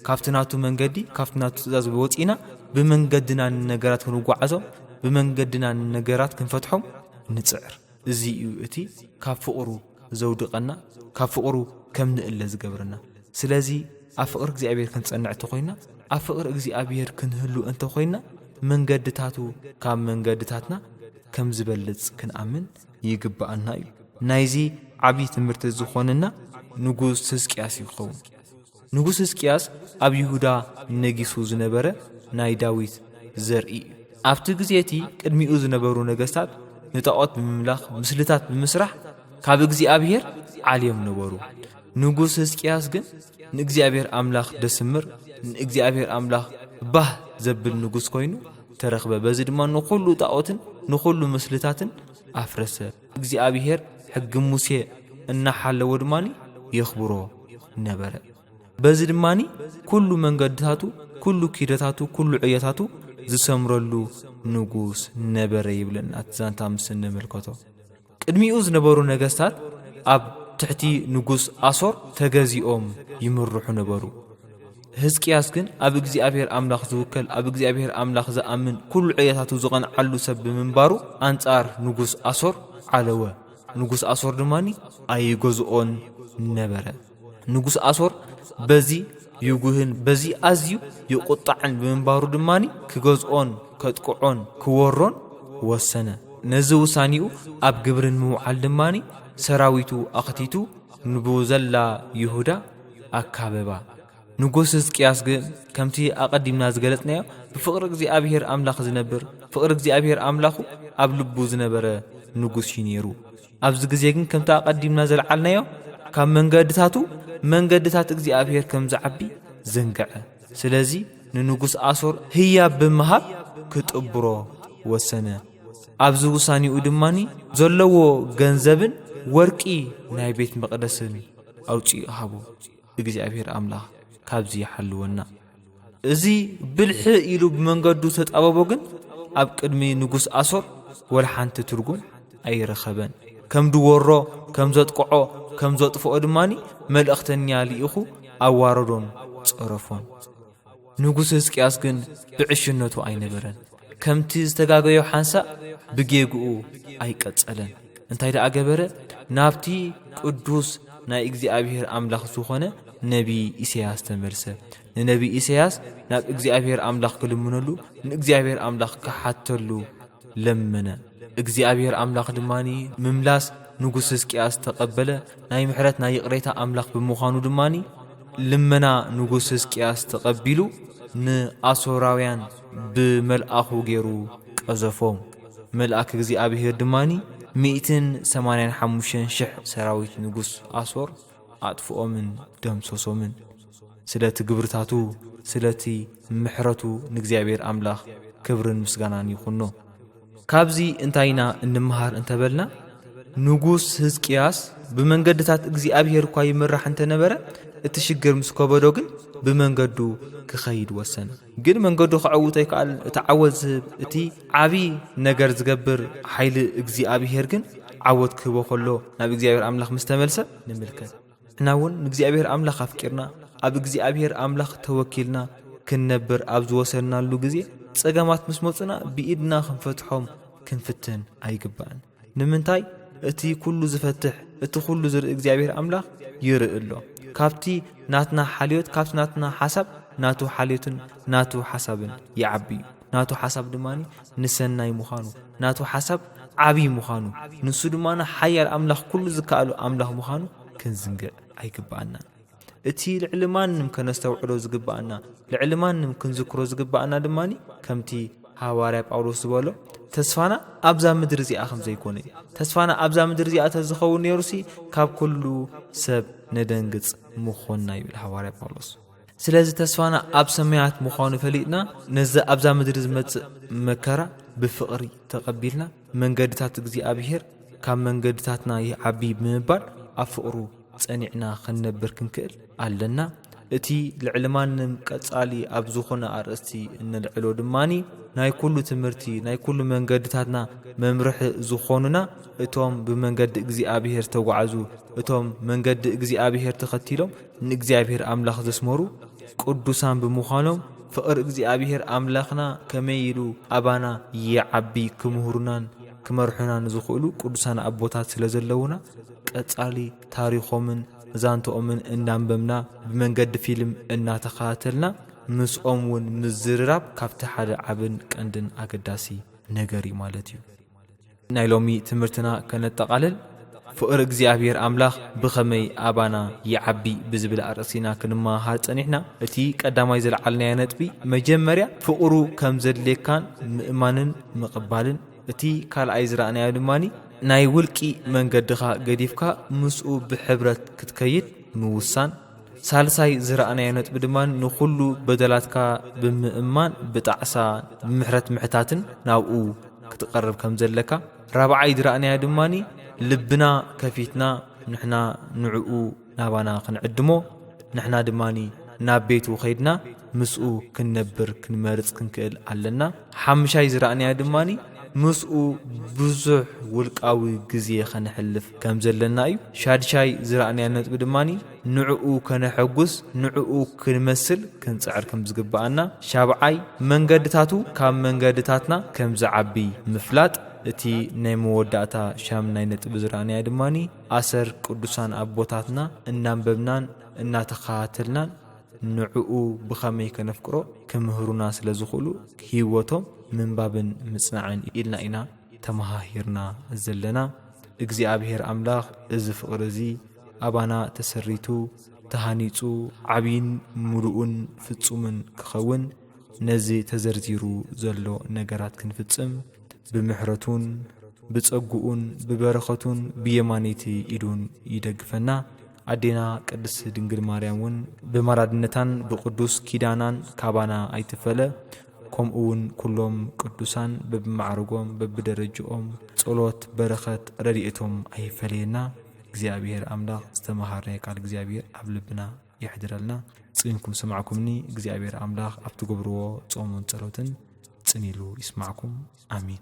ካብቲ ናቱ መንገዲ፣ ካብቲ ናቱ ትእዛዝ ወጺእና ብመንገድና ንነገራት ክንጓዓዞም፣ ብመንገድና ንነገራት ክንፈትሖም ንጽዕር። እዚ እዩ እቲ ካብ ፍቕሩ ዘውድቐና፣ ካብ ፍቕሩ ከም ንእለ ዝገብረና። ስለዚ ኣብ ፍቕሪ እግዚኣብሔር ክንጸንዕ እንተ ኾይንና፣ ኣብ ፍቕሪ እግዚኣብሔር ክንህሉ እንተ ኾይንና፣ መንገድታቱ ካብ መንገድታትና ከም ዝበልጽ ክንኣምን ይግብኣና እዩ። ናይዚ ዓብዪ ትምህርቲ ዝኾነና ንጉስ ህዝቅያስ እዩ ክኸውን። ንጉስ ህዝቅያስ ኣብ ይሁዳ ነጊሱ ዝነበረ ናይ ዳዊት ዘርኢ እዩ። ኣብቲ ግዜ እቲ ቅድሚኡ ዝነበሩ ነገስታት ንጣዖት ብምምላኽ ምስልታት ብምስራሕ ካብ እግዚኣብሔር ዓልዮም ነበሩ። ንጉስ ህዝቅያስ ግን ንእግዚኣብሔር ኣምላኽ ደስምር ንእግዚኣብሔር ኣምላኽ ባህ ዘብል ንጉስ ኮይኑ ተረኽበ፣ በዚ ድማ ንዅሉ ጣኦትን ንዅሉ ምስልታትን ኣፍረሰ። እግዚኣብሄር ሕጊ ሙሴ እናሓለወ ድማ የኽብሮ ነበረ። በዚ ድማ ኵሉ መንገድታቱ፣ ኵሉ ኪደታቱ፣ ኵሉ ዕዮታቱ ዝሰምረሉ ንጉስ ነበረ ይብለና እቲ ዛንታ ምስ እንምልከቶ። ቅድሚኡ ዝነበሩ ነገስታት ኣብ ትሕቲ ንጉስ ኣሶር ተገዚኦም ይምርሑ ነበሩ። ህዝቅያስ ግን ኣብ እግዚኣብሔር ኣምላኽ ዝውከል ኣብ እግዚኣብሔር ኣምላኽ ዝኣምን ኩሉ ዕየታቱ ዝቐንዓሉ ሰብ ብምንባሩ ኣንጻር ንጉስ ኣሶር ዓለወ። ንጉስ ኣሶር ድማኒ ኣይገዝኦን ነበረ። ንጉስ ኣሶር በዚ ይጉህን በዚ ኣዝዩ ይቁጣዕን ብምንባሩ ድማ ክገዝኦን ከጥቅዖን ክወሮን ወሰነ። ነዚ ውሳኔኡ ኣብ ግብሪ ንምውዓል ድማ ሰራዊቱ ኣኽቲቱ ንብዘላ ይሁዳ ኣካበባ። ንጉስ ህዝቅያስ ግን ከምቲ ኣቐዲምና ዝገለጽናዮ ብፍቕሪ እግዚኣብሔር ኣምላኽ ዝነብር ፍቕሪ እግዚኣብሔር ኣምላኹ ኣብ ልቡ ዝነበረ ንጉስ እዩ ነይሩ። ኣብዚ ግዜ ግን ከምቲ ኣቐዲምና ዘልዓልናዮ ካብ መንገድታቱ መንገድታት እግዚኣብሔር ከም ዝዓቢ ዘንግዐ። ስለዚ ንንጉሥ ኣሶር ህያብ ብምሃብ ክጥብሮ ወሰነ። ኣብዚ ውሳኔኡ ድማኒ ዘለዎ ገንዘብን ወርቂ ናይ ቤት መቕደስን ኣውፂኡ ሃቦ። እግዚኣብሔር ኣምላኽ ካብዚ ይሓልወና። እዚ ብልሒ ኢሉ ብመንገዱ ተጣበቦ ግን ኣብ ቅድሚ ንጉስ ኣሶር ወላ ሓንቲ ትርጉም ኣይረኸበን ከም ድወሮ ከም ዘጥቅዖ ከም ዘጥፍኦ ድማኒ መልእኽተኛ ልኢኹ ኣዋረዶን ጸረፎን ንጉስ ህዝቅያስ ግን ብዕሽነቱ ኣይነበረን ከምቲ ዝተጋገዮ ሓንሳእ ብጌግኡ ኣይቀጸለን። እንታይ ደኣ ገበረ? ናብቲ ቅዱስ ናይ እግዚኣብሔር ኣምላኽ ዝኾነ ነቢይ ኢሰያስ ተመልሰ። ንነቢይ ኢሰያስ ናብ እግዚኣብሔር ኣምላኽ ክልምነሉ፣ ንእግዚኣብሔር ኣምላኽ ክሓተሉ ለመነ። እግዚኣብሔር ኣምላኽ ድማ ምምላስ ንጉስ ህዝቅያስ ተቐበለ። ናይ ምሕረት ናይ ይቕሬታ ኣምላኽ ብምዃኑ ድማ ልመና ንጉስ ህዝቅያስ ተቐቢሉ ንኣሶራውያን ብመልኣኹ ገይሩ ቀዘፎም። መልኣክ እግዚኣብሄር ድማ ሚእትን ሰማንያን ሓሙሽተን ሽሕ ሰራዊት ንጉስ ኣሶር ኣጥፍኦምን ደምሰሶምን። ስለቲ ግብርታቱ ስለቲ ምሕረቱ ንእግዚኣብሄር ኣምላኽ ክብርን ምስጋናን ይኹኖ። ካብዚ እንታይ ኢና እንመሃር እንተ በልና ንጉስ ህዝቅያስ ብመንገድታት እግዚኣብሄር እኳ ይምራሕ እንተ ነበረ እቲ ሽግር ምስ ከበዶ ግን ብመንገዱ ክኸይድ ወሰነ። ግን መንገዱ ከዐውቶ ኣይከኣለን። እቲ ዓወት ዝህብ፣ እቲ ዓቢ ነገር ዝገብር ሓይሊ እግዚኣብሄር ግን ዓወት ክህቦ ከሎ ናብ እግዚኣብሄር ኣምላኽ ምስ ተመልሰ ንምልከት። ንሕና እውን ንእግዚኣብሄር ኣምላኽ ኣፍቂርና ኣብ እግዚኣብሄር ኣምላኽ ተወኪልና ክንነብር ኣብ ዝወሰንናሉ ግዜ ጸገማት ምስ መጹና ብኢድና ክንፈትሖም ክንፍትን ኣይግባእን። ንምንታይ እቲ ኩሉ ዝፈትሕ እቲ ኩሉ ዝርኢ እግዚኣብሔር ኣምላኽ ይርኢ ኣሎ ካብቲ ናትና ሓልዮት ካብቲ ናትና ሓሳብ ናቱ ሓልዮትን ናቱ ሓሳብን ይዓቢ እዩ ናቱ ሓሳብ ድማ ንሰናይ ምዃኑ ናቱ ሓሳብ ዓብዪ ምዃኑ ንሱ ድማ ሓያል ኣምላኽ ኩሉ ዝከኣሉ ኣምላኽ ምዃኑ ክንዝንግዕ ኣይግብኣናን እቲ ልዕሊ ማንም ከነስተውዕሎ ዝግብኣና፣ ልዕሊ ማንም ክንዝክሮ ዝግብኣና ድማ ከምቲ ሃዋርያ ጳውሎስ ዝበሎ ተስፋና ኣብዛ ምድሪ እዚኣ ከም ዘይኮነ እዩ። ተስፋና ኣብዛ ምድሪ እዚኣ ተዝኸውን ነይሩሲ ካብ ኩሉ ሰብ ነደንግጽ ምኾንና ይብል ሃዋርያ ጳውሎስ። ስለዚ ተስፋና ኣብ ሰማያት ምዃኑ ፈሊጥና ነዚ ኣብዛ ምድሪ ዝመጽእ መከራ ብፍቕሪ ተቐቢልና መንገድታት እግዚኣብሄር ካብ መንገድታትና ይዓቢ ብምባል ኣብ ፍቕሩ ጸኒዕና ክንነብር ክንክእል ኣለና። እቲ ልዕሊ ማንም ቀጻሊ ኣብ ዝኾነ ኣርእስቲ እነልዕሎ ድማ ናይ ኩሉ ትምህርቲ ናይ ኩሉ መንገድታትና መምርሒ ዝኾኑና እቶም ብመንገዲ እግዚኣብሔር ዝተጓዕዙ እቶም መንገዲ እግዚኣብሔር ተኸቲሎም ንእግዚኣብሔር ኣምላኽ ዘስመሩ ቅዱሳን ብምዃኖም ፍቕሪ እግዚኣብሔር ኣምላኽና ከመይ ኢሉ ኣባና ይዓቢ ክምህሩናን ክመርሑናን ዝኽእሉ ቅዱሳን ኣቦታት ስለ ዘለዉና ቀጻሊ ታሪኾምን ዛንትኦምን እናንበብና ብመንገዲ ፊልም እናተኸታተልና ምስኦም እውን ምዝርራብ ካብቲ ሓደ ዓብን ቀንድን ኣገዳሲ ነገር እዩ ማለት እዩ። ናይ ሎሚ ትምህርትና ከነጠቓልል ፍቕሪ እግዚኣብሔር ኣምላኽ ብኸመይ ኣባና ይዓቢ ብዝብል ኣርእሲና ክንመሃሃር ጸኒሕና። እቲ ቀዳማይ ዘልዓልናዮ ነጥቢ መጀመርያ ፍቕሩ ከም ዘድልየካን ምእማንን ምቕባልን እቲ ካልኣይ ዝረኣናዮ ድማ ናይ ውልቂ መንገድኻ ገዲፍካ ምስኡ ብሕብረት ክትከይድ ምውሳን፣ ሳልሳይ ዝረኣናዮ ነጥቢ ድማ ንኹሉ በደላትካ ብምእማን ብጣዕሳ ምሕረት ምሕታትን ናብኡ ክትቐርብ ከም ዘለካ፣ ራብዓይ ዝረኣናዮ ድማ ልብና ከፊትና ንሕና ንዕኡ ናባና ክንዕድሞ ንሕና ድማ ናብ ቤቱ ከይድና ምስኡ ክንነብር ክንመርጽ ክንክእል ኣለና። ሓምሻይ ዝረኣናዮ ድማ ምስኡ ብዙሕ ውልቃዊ ግዜ ከነሕልፍ ከም ዘለና እዩ። ሻድሻይ ዝረኣናዮ ነጥቢ ድማ ንዕኡ ከነሐጉስ ንዕኡ ክንመስል ክንጽዕር ከም ዝግብኣና። ሻብዓይ መንገድታቱ ካብ መንገድታትና ከም ዝዓቢ ምፍላጥ። እቲ ናይ መወዳእታ ሻምናይ ነጥቢ ዝረኣናዮ ድማ ኣሰር ቅዱሳን ኣቦታትና እናንበብናን እናተኸታተልናን ንዕኡ ብኸመይ ከነፍቅሮ ክምህሩና ስለ ዝኽእሉ ህይወቶም ምንባብን ምጽናዕን ኢልና ኢና ተመሃሂርና ዘለና። እግዚኣብሔር ኣምላኽ እዚ ፍቕሪ እዚ ኣባና ተሰሪቱ ተሃኒጹ ዓቢይን ምሉእን ፍጹምን ክኸውን ነዚ ተዘርዚሩ ዘሎ ነገራት ክንፍጽም ብምሕረቱን ብጸግኡን ብበረኸቱን ብየማነይቲ ኢዱን ይደግፈና። ኣዴና ቅድስት ድንግል ማርያም እውን ብማላድነታን ብቅዱስ ኪዳናን ካባና ኣይትፈለ። ከምኡ እውን ኩሎም ቅዱሳን በብማዕርጎም በብደረጅኦም ጸሎት በረኸት ረድኤቶም ኣይፈለየና። እግዚኣብሔር ኣምላኽ ዝተመሃርናዮ ቃል እግዚኣብሔር ኣብ ልብና የሕድረልና ጽዩንኩም ሰማዕኩምኒ እግዚኣብሔር ኣምላኽ ኣብ ትገብርዎ ጾሙን ጸሎትን ጽን ኢሉ ይስማዕኩም ኣሚን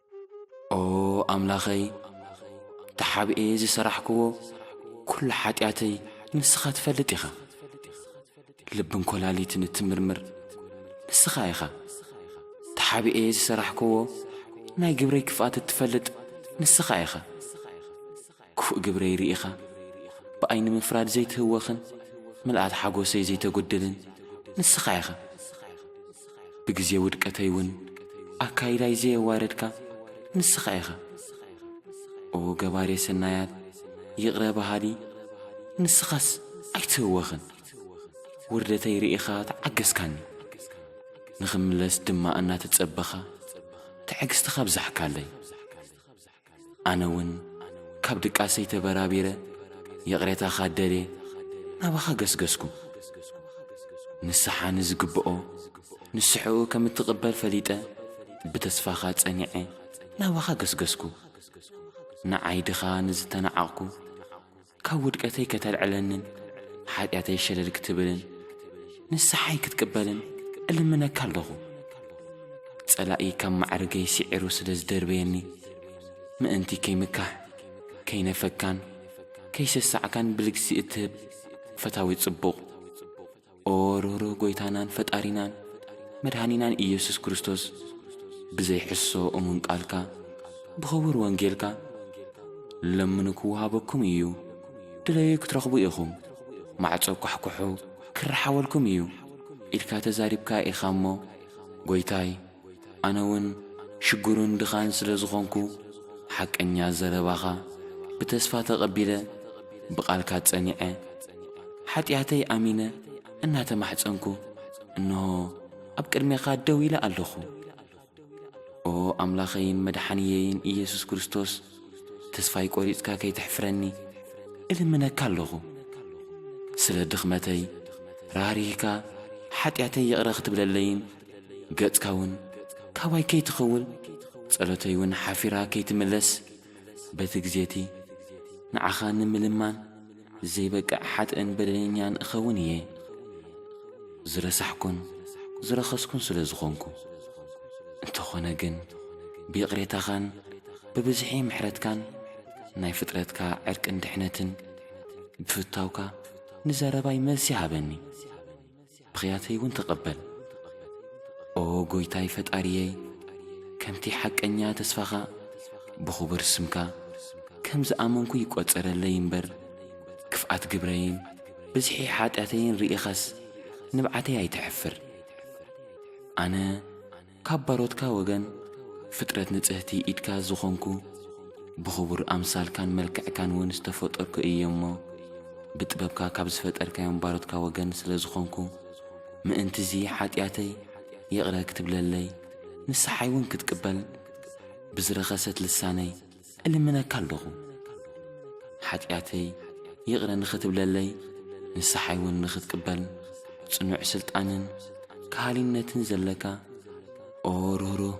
ኦ ኣምላኸይ ተሓብኤ ዝሰራሕክዎ ኩሉ ሓጢኣተይ ንስኻ ትፈልጥ ኢኻ ልብን ኮላሊትን እትምርምር ንስኻ ኢኻ ተሓብኤ ዝሰራሕክዎ ናይ ግብረይ ክፍኣት እትፈልጥ ንስኻ ኢኻ ክፉእ ግብረይ ርኢኻ ብኣይ ንምፍራድ ዘይትህወኽን ምልኣት ሓጎሰይ ዘይተጎድልን ንስኻ ኢኻ ብግዜ ውድቀተይ ውን ኣካይዳይ ዘየዋረድካ ንስኻ ኢኻ ኦ ገባሬ ሰናያት ይቕረ በሃሊ ንስኻስ ኣይትህወኽን ውርደተይ ርኢኻ ተዓገስካኒ ንኽምለስ ድማ እናተጸበኻ ትዕግስትኻ ኣብዛሕካለይ ኣነ እውን ካብ ድቃሰይ ተበራቢረ ይቕሬታኻ ደልየ ናባኻ ገስገስኩ። ንስሓ ንዝግብኦ ንስሕኡ ከም እትቕበል ፈሊጠ ብተስፋኻ ጸኒዐ ናባኻ ገስገስኩ። ንዓይ ድኻ ንዝተናዓቕኩ ካብ ውድቀተይ ከተልዕለንን ሓጢኣተይ ሸለል ክትብልን ንስሓይ ክትቅበልን እልምነካ ኣለኹ። ጸላኢ ካብ ማዕርገይ ስዒሩ ስለ ዝደርበየኒ ምእንቲ ከይምካሕ ከይነፈካን ከይሰሳዕካን ብልግሲ እትህብ ፈታዊት ጽቡቕ ኦ ርህሩህ ጐይታናን ፈጣሪናን መድኃኒናን ኢየሱስ ክርስቶስ ብዘይ ሕሶ እሙን ቃልካ ብኽቡር ወንጌልካ ለምኑ ክወሃበኩም እዩ ድለዩ ክትረኽቡ ኢኹም ማዕጾ ኳሕኩሑ ክረሓወልኩም እዩ ኢልካ ተዛሪብካ ኢኻ እሞ ጐይታይ ኣነ ውን ሽግሩን ድኻን ስለ ዝኾንኩ ሓቀኛ ዘረባኻ ብተስፋ ተቐቢለ ብቓልካ ጸኒዐ ሓጢኣተይ ኣሚነ እናተማሕጸንኩ እንሆ ኣብ ቅድሜኻ ደው ኢለ ኣለኹ ኦ ኣምላኸይን መድሓንየይን ኢየሱስ ክርስቶስ ተስፋይ ቆሪጽካ ከይተሕፍረኒ እልምነካ ኣለኹ ስለ ድኽመተይ ራህሪህካ ሓጢኣተይ ይቕረ ክትብለለይን ገጽካውን ካባይ ከይትኸውን ጸሎተይውን ሓፊራ ከይትምለስ በቲ ግዜቲ ንዓኻ ንምልማን ዘይበቅዕ ሓጥእን በደለኛን እኸውን እየ ዝረሳሕኩን ዝረኸስኩን ስለ ዝኾንኩ እንተኾነ ግን ብይቕሬታኻን ብብዝሒ ምሕረትካን ናይ ፍጥረትካ ዕርቅን ድሕነትን ብፍታውካ ንዘረባይ መልሲ ሃበኒ ብኽያተይ እውን ተቐበል። ኦ ጐይታይ ፈጣሪየይ፣ ከምቲ ሓቀኛ ተስፋኻ ብኽቡር ስምካ ከም ዝኣመንኩ ይቈጸረለይ እምበር፣ ክፍኣት ግብረይን ብዝሒ ሓጢኣተይን ርኢኻስ ንብዓተይ ኣይተሕፍር። ኣነ ካብ ባሮትካ ወገን ፍጥረት ንጽህቲ ኢድካ ዝኾንኩ ብኽቡር ኣምሳልካን መልክዕካን ውን ዝተፈጠርኩ እየ እሞ ብጥበብካ ካብ ዝፈጠርካዮም ባሮትካ ወገን ስለ ዝኾንኩ ምእንቲ'ዚ ሓጢኣተይ ይቕረ ክትብለለይ ንስሓይ ውን ክትቅበል ብዝረኸሰት ልሳነይ እልምነካ ኣለኹ ሓጢኣተይ ይቕረ ንኽትብለለይ ንስሓይውን ንኽትቅበል ጽኑዕ ስልጣንን ከሃሊነትን ዘለካ ኦ ርህሩህ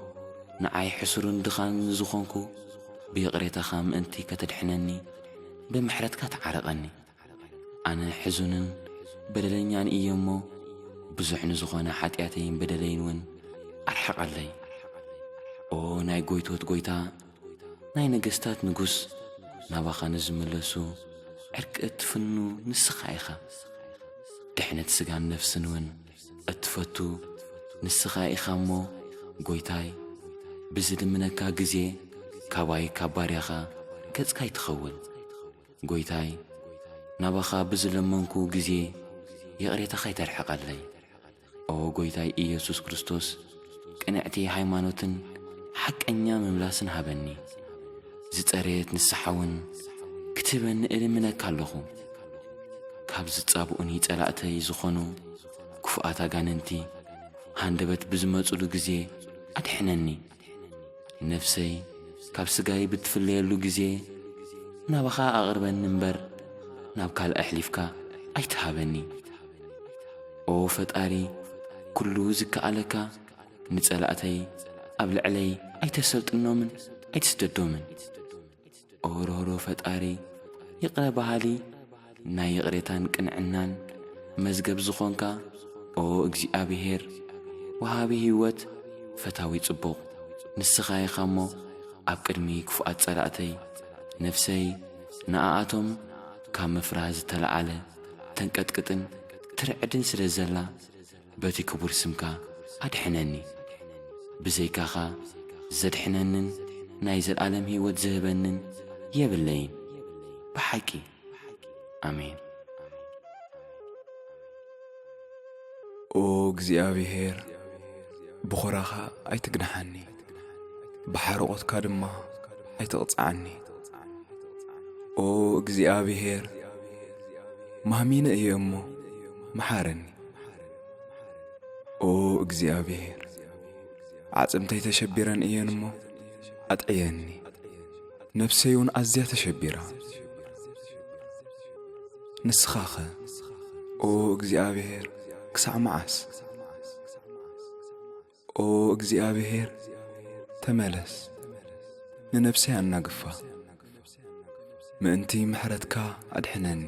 ንዓይ ሕሱርን ድኻን ንዝኾንኩ ብይቕሬታኻ ምእንቲ ከተድሕነኒ ብምሕረትካ ተዓረቐኒ። ኣነ ሕዙንን በደለኛን እየ እሞ ብዙሕ ንዝኾነ ሓጢኣተይን በደለይን እውን ኣርሕቐለይ ኦ ናይ ጐይቶት ጐይታ ናይ ነገስታት ንጉስ ናባኻ ንዝምለሱ ዕርቂ እትፍኑ ንስኻ ኢኻ ድሕነት ስጋን ነፍስን እውን እትፈቱ ንስኻ ኢኻ እሞ ጐይታይ ብዝልምነካ ግዜ ካባይ ካብ ባርያኻ ገጽካ ይትኸውን ጎይታይ ናባኻ ብዝለመንኩ ግዜ ይቕሬታኻ ኣይተርሕቐለይ። ኦ ጎይታይ ኢየሱስ ክርስቶስ ቅንዕቲ ሃይማኖትን ሓቀኛ ምምላስን ሃበኒ። ዝጸረየት ንስሓውን ክትህበኒ እልምነካ ኣለኹ። ካብ ዝጻብኡኒ ጸላእተይ ዝኾኑ ክፉኣት ኣጋንንቲ ሃንደበት ብዝመጹሉ ግዜ ኣድሕነኒ። ነፍሰይ ካብ ስጋይ ብትፍለየሉ ግዜ ናባኻ ኣቕርበኒ እምበር ናብ ካልእ ኣሕሊፍካ ኣይትሃበኒ ኦ ፈጣሪ ኩሉ ዝከኣለካ ንጸላእተይ ኣብ ልዕለይ ኣይተሰልጥኖምን ኣይትስደዶምን ሩህሩህ ፈጣሪ ይቕረ በሃሊ ናይ ይቕሬታን ቅንዕናን መዝገብ ዝኾንካ ኦ እግዚኣብሄር ወሃቢ ህይወት ፈታዊ ጽቡቕ ንስኻ ኢኻ እሞ ኣብ ቅድሚ ክፉኣት ጸላእተይ ነፍሰይ ንኣኣቶም ካብ ምፍራህ ዝተለዓለ ተንቀጥቅጥን ትርዕድን ስለ ዘላ በቲ ክቡር ስምካ ኣድሕነኒ። ብዘይካኻ ዘድሕነንን ናይ ዘለኣለም ህይወት ዝህበንን የብለይን ብሓቂ። ኣሜን። ኦ እግዚኣብሄር ብኹራኻ ኣይትግንሓኒ፣ ብሓርቖትካ ድማ ኣይትቕጽዓኒ። ኦ እግዚኣብሄር ማህሚነ እየ እሞ መሓረኒ። ኦ እግዚኣብሔር ዓጽምተይ ተሸቢረን እየን እሞ ኣጥዕየኒ ነፍሰይ እውን ኣዝያ ተሸቢራ ንስኻኸ ኦ እግዚኣብሔር ክሳዕ መዓስ ኦ እግዚኣብሔር ተመለስ ንነፍሰይ ኣናግፋ ምእንቲ ምሕረትካ ኣድሕነኒ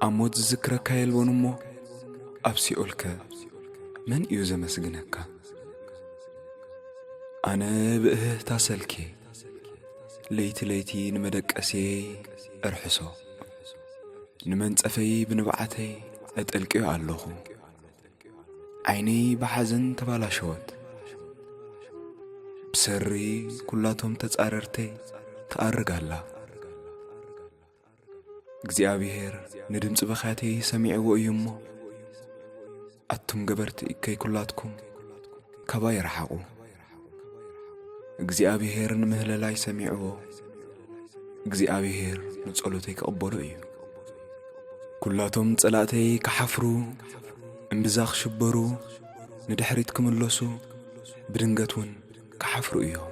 ኣብ ሞት ዝዝክረካ የልቦን እሞ ኣብ ሲኦልከ መን እዩ ዘመስግነካ ኣነ ብእህህታ ሰልኬ ለይቲ ለይቲ ንመደቀስየ እርሕሶ ንመንጸፈይ ብንብዓተይ እጥልቅዮ ኣለኹ ዓይነይ ብሓዘን ተባላሸወት ብሰሪ ኩላቶም ተጻረርተይ ትኣርግ ኣላ እግዚኣብሔር ንድምፂ በካተይ ሰሚዕዎ እዩ እሞ ኣቱም ገበርቲ እከይ ኩላትኩም ካባይ ረሓቑ እግዚኣብሔር ንምህለላይ ሰሚዕዎ እግዚኣብሔር ንጸሎተይ ክቕበሎ እዩ ኵላቶም ጸላእተይ ክሓፍሩ እምብዛ ክሽበሩ ንድሕሪት ክምለሱ ብድንገት እውን ክሓፍሩ እዮም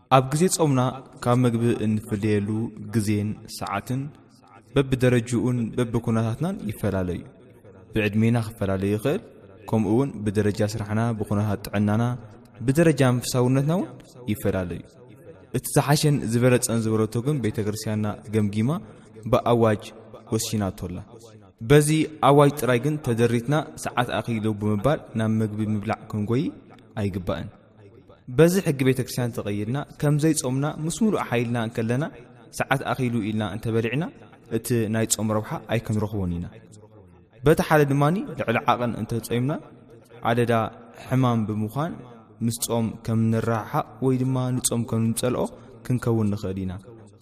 ኣብ ግዜ ጾምና ካብ ምግቢ እንፍለየሉ ግዜን ሰዓትን በብደረጅኡን በብኩነታትናን ይፈላለ እዩ። ብዕድሜና ክፈላለ ይኽእል፣ ከምኡ እውን ብደረጃ ስራሕና፣ ብኩነታት ጥዕናና፣ ብደረጃ መንፈሳውነትና እውን ይፈላለ እዩ። እቲ ዝሓሸን ዝበለጸን ዝበለቶ ግን ቤተ ክርስቲያንና ገምጊማ ብኣዋጅ ወሲናቶ ኣላ። በዚ ኣዋጅ ጥራይ ግን ተደሪትና ሰዓት ኣኺሉ ብምባል ናብ ምግቢ ምብላዕ ክንጎይ ኣይግባእን። በዚ ሕጊ ቤተ ክርስቲያን ተቐይድና ከም ዘይጾምና ምስ ምሉእ ሓይልና እንከለና ሰዓት ኣኺሉ ኢልና እንተበሊዕና እቲ ናይ ጾም ረብሓ ኣይክንረኽቦን ኢና በቲ ሓደ ድማ ልዕሊ ዓቕን እንተጾምና ኣደዳ ሕማም ብምዃን ምስ ጾም ከም ንረሓሓቕ ወይ ድማ ንጾም ከም ንጸልኦ ክንከውን ንኽእል ኢና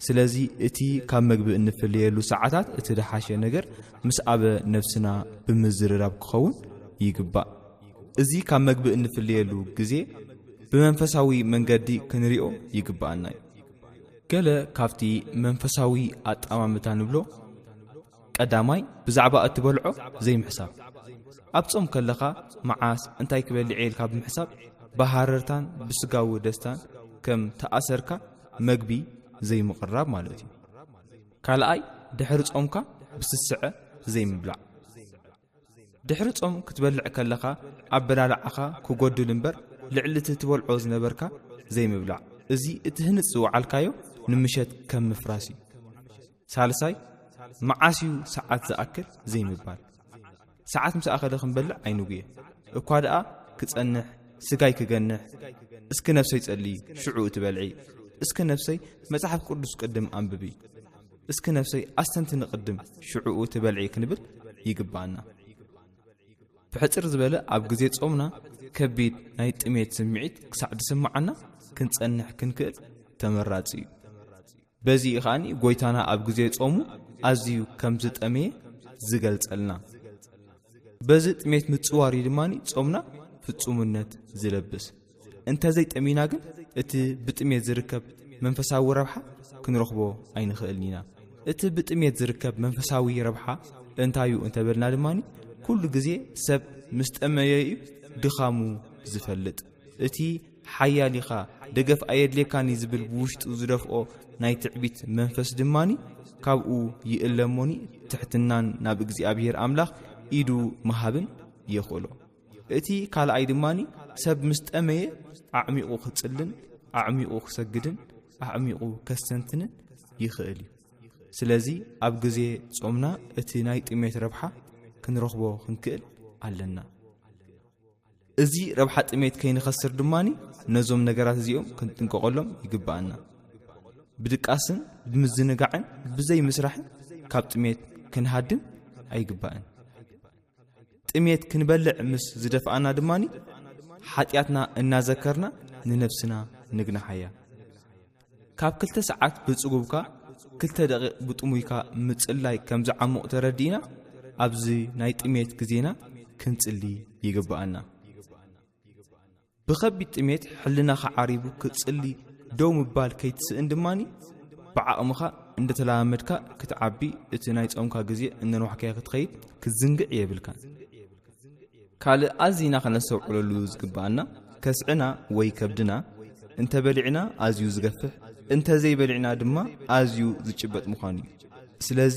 ስለዚ እቲ ካብ መግቢ እንፍለየሉ ሰዓታት እቲ ደሓሸ ነገር ምስ ኣበ ነፍስና ብምዝርራብ ክኸውን ይግባእ እዚ ካብ መግቢ እንፍልየሉ ግዜ ብመንፈሳዊ መንገዲ ክንሪኦ ይግብኣና እዩ ገለ ካብቲ መንፈሳዊ ኣጠማምታ ንብሎ ቀዳማይ ብዛዕባ እትበልዖ ዘይምሕሳብ ኣብ ጾም ከለኻ መዓስ እንታይ ክበልዕ የል ካብ ምሕሳብ ብሃረርታን ብስጋዊ ደስታን ከም ተኣሰርካ መግቢ ዘይምቕራብ ማለት እዩ ካልኣይ ድሕሪ ጾምካ ብስስዐ ዘይምብላዕ ድሕሪ ጾም ክትበልዕ ከለኻ ኣበላልዓኻ ክጎድል እምበር ልዕሊ እቲ ትበልዖ ዝነበርካ ዘይምብላዕ እዚ እቲ ህንፅ ዝወዓልካዮ ንምሸት ከም ምፍራስ እዩ ሳልሳይ መዓስ እዩ ሰዓት ዝኣክል ዘይምባል ሰዓት ምስ ኣኸለ ክንበልዕ ኣይንጉየ እኳ ደኣ ክጸንሕ ስጋይ ክገንሕ እስኪ ነፍሰይ ጸልይ ሽዑ እቲ በልዒ እስኪ ነፍሰይ መጽሓፍ ቅዱስ ቅድም ኣንብቢ እስኪ ነፍሰይ ኣስተንትኒ ቅድም ሽዑኡ እቲ በልዒ ክንብል ይግብኣና። ብሕጽር ዝበለ ኣብ ግዜ ጾምና ከቢድ ናይ ጥሜት ስምዒት ክሳዕ ዝስምዓና ክንጸንሕ ክንክእል ተመራጺ እዩ። በዚ እዩ ከኣ ጎይታና ኣብ ግዜ ጾሙ ኣዝዩ ከም ዝጠመየ ዝገልጸልና። በዚ ጥሜት ምጽዋር እዩ ድማ ጾምና ፍጹምነት ዝለብስ። እንተዘይ ጠሚና ግን እቲ ብጥሜት ዝርከብ መንፈሳዊ ረብሓ ክንረኽቦ ኣይንኽእልን ኢና እቲ ብጥሜት ዝርከብ መንፈሳዊ ረብሓ እንታዩ እንተበልና ድማ ኩሉ ግዜ ሰብ ምስ ጠመየ እዩ ድኻሙ ዝፈልጥ እቲ ሓያል ኢኻ ደገፍ ኣየድልየካኒ ዝብል ብውሽጡ ዝደፍኦ ናይ ትዕቢት መንፈስ ድማኒ ካብኡ ይእለሞኒ ትሕትናን ናብ እግዚኣብሄር ኣምላኽ ኢዱ መሃብን የኽእሎ እቲ ካልኣይ ድማ ሰብ ምስ ጠመየ ኣዕሚቑ ክጽልን ኣዕሚቑ ክሰግድን ኣዕሚቑ ከስተንትንን ይኽእል እዩ ስለዚ ኣብ ግዜ ጾምና እቲ ናይ ጥሜት ረብሓ ክንረኽቦ ክንክእል ኣለና እዚ ረብሓ ጥሜት ከይንኸስር ድማ ነዞም ነገራት እዚኦም ክንጥንቀቐሎም ይግብኣና ብድቃስን ብምዝንጋዕን ብዘይ ምስራሕን ካብ ጥሜት ክንሃድም ኣይግባእን ጥሜት ክንበልዕ ምስ ዝደፍኣና ድማ ሓጢኣትና እናዘከርና ንነብስና ንግናሓያ ካብ ክልተ ሰዓት ብጽጉብካ ክልተ ደቂቕ ብጥሙይካ ምጽላይ ከም ዝዓሙቕ ተረዲእና ኣብዚ ናይ ጥሜት ግዜና ክንጽሊ ይግብኣና ብኸቢድ ጥሜት ሕልናኻ ዓሪቡ ክትጽሊ ደው ምባል ከይትስእን ድማ ብዓቕምኻ እንደተለማመድካ ክትዓቢ እቲ ናይ ጾምካ ግዜ እነንዋሕካዮ ክትኸይድ ክትዝንግዕ የብልካን ካልእ ኣዚና ከነስተውዕለሉ ዝግብኣና ከስዕና ወይ ከብድና እንተበሊዕና ኣዝዩ ዝገፍሕ እንተዘይበሊዕና ድማ ኣዝዩ ዝጭበጥ ምዃኑ እዩ ስለዚ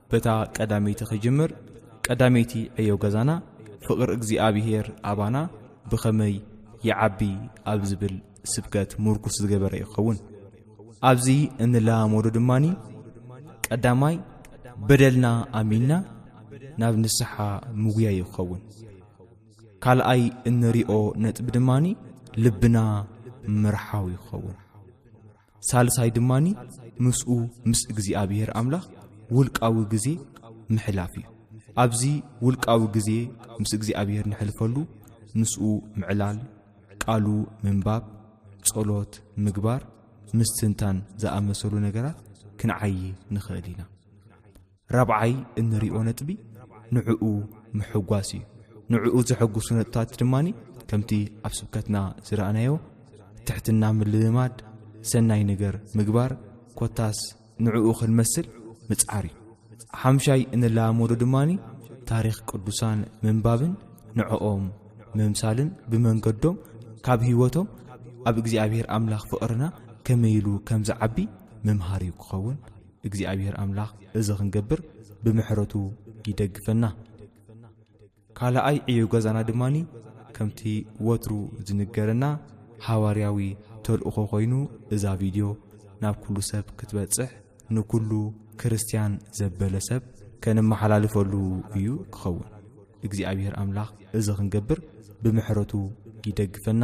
በታ ቀዳመይቲ ኺጅምር፣ ቀዳመይቲ ዕዮ ገዛና፣ ፍቕሪ እግዚኣብሄር ኣባና ብኸመይ ይዓቢ ኣብ ዚብል ስብከት ምርኩስ ዝገበረ እዩ ኪኸውን። ኣብዚ እንለማመዶ ድማ፣ ቀዳማይ በደልና ኣሚንና ናብ ንስሓ ምጉያይ እዩ ኪኸውን። ካልኣይ እንሪኦ ነጥቢ ድማ፣ ልብና ምርሓው እዩ ኪኸውን። ሳልሳይ ድማ ምስኡ ምስ እግዚኣብሔር ኣምላኽ ውልቃዊ ግዜ ምሕላፍ እዩ ኣብዚ ውልቃዊ ግዜ ምስ እግዚኣብሔር ንሕልፈሉ ምስኡ ምዕላል ቃሉ ምንባብ ጸሎት ምግባር ምስትንታን ዝኣመሰሉ ነገራት ክንዓዪ ንኽእል ኢና ራብዓይ እንሪኦ ነጥቢ ንዕኡ ምሕጓስ እዩ ንዕኡ ዘሐጉሱ ነጥታት ድማ ከምቲ ኣብ ስብከትና ዝረኣናዮ ትሕትና ምልምማድ ሰናይ ነገር ምግባር ኮታስ ንዕኡ ክንመስል ምጽዓር እዩ ሓምሻይ እንለማመዶ ድማኒ ታሪኽ ቅዱሳን ምንባብን ንዕኦም ምምሳልን ብመንገዶም ካብ ህይወቶም ኣብ እግዚኣብሔር ኣምላኽ ፍቕርና ከመይሉ ከም ዝዓቢ ምምሃር እዩ ክኸውን እግዚኣብሔር ኣምላኽ እዚ ክንገብር ብምሕረቱ ይደግፈና። ካልኣይ ዕዮ ገዛና ድማ ከምቲ ወትሩ ዝንገረና ሃዋርያዊ ተልእኾ ኮይኑ እዛ ቪድዮ ናብ ኩሉ ሰብ ክትበጽሕ ንኩሉ ክርስትያን ዘበለ ሰብ ከነመሓላልፈሉ እዩ ክኸውን። እግዚኣብሔር ኣምላኽ እዚ ክንገብር ብምሕረቱ ይደግፈና።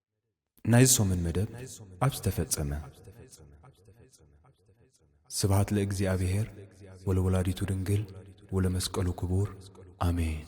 ናይዚ ሰሙን መደብ ኣብ ዝተፈጸመ ስብሃት ለእግዚኣብሔር ወለወላዲቱ ድንግል ወለመስቀሉ ክቡር ኣሜን።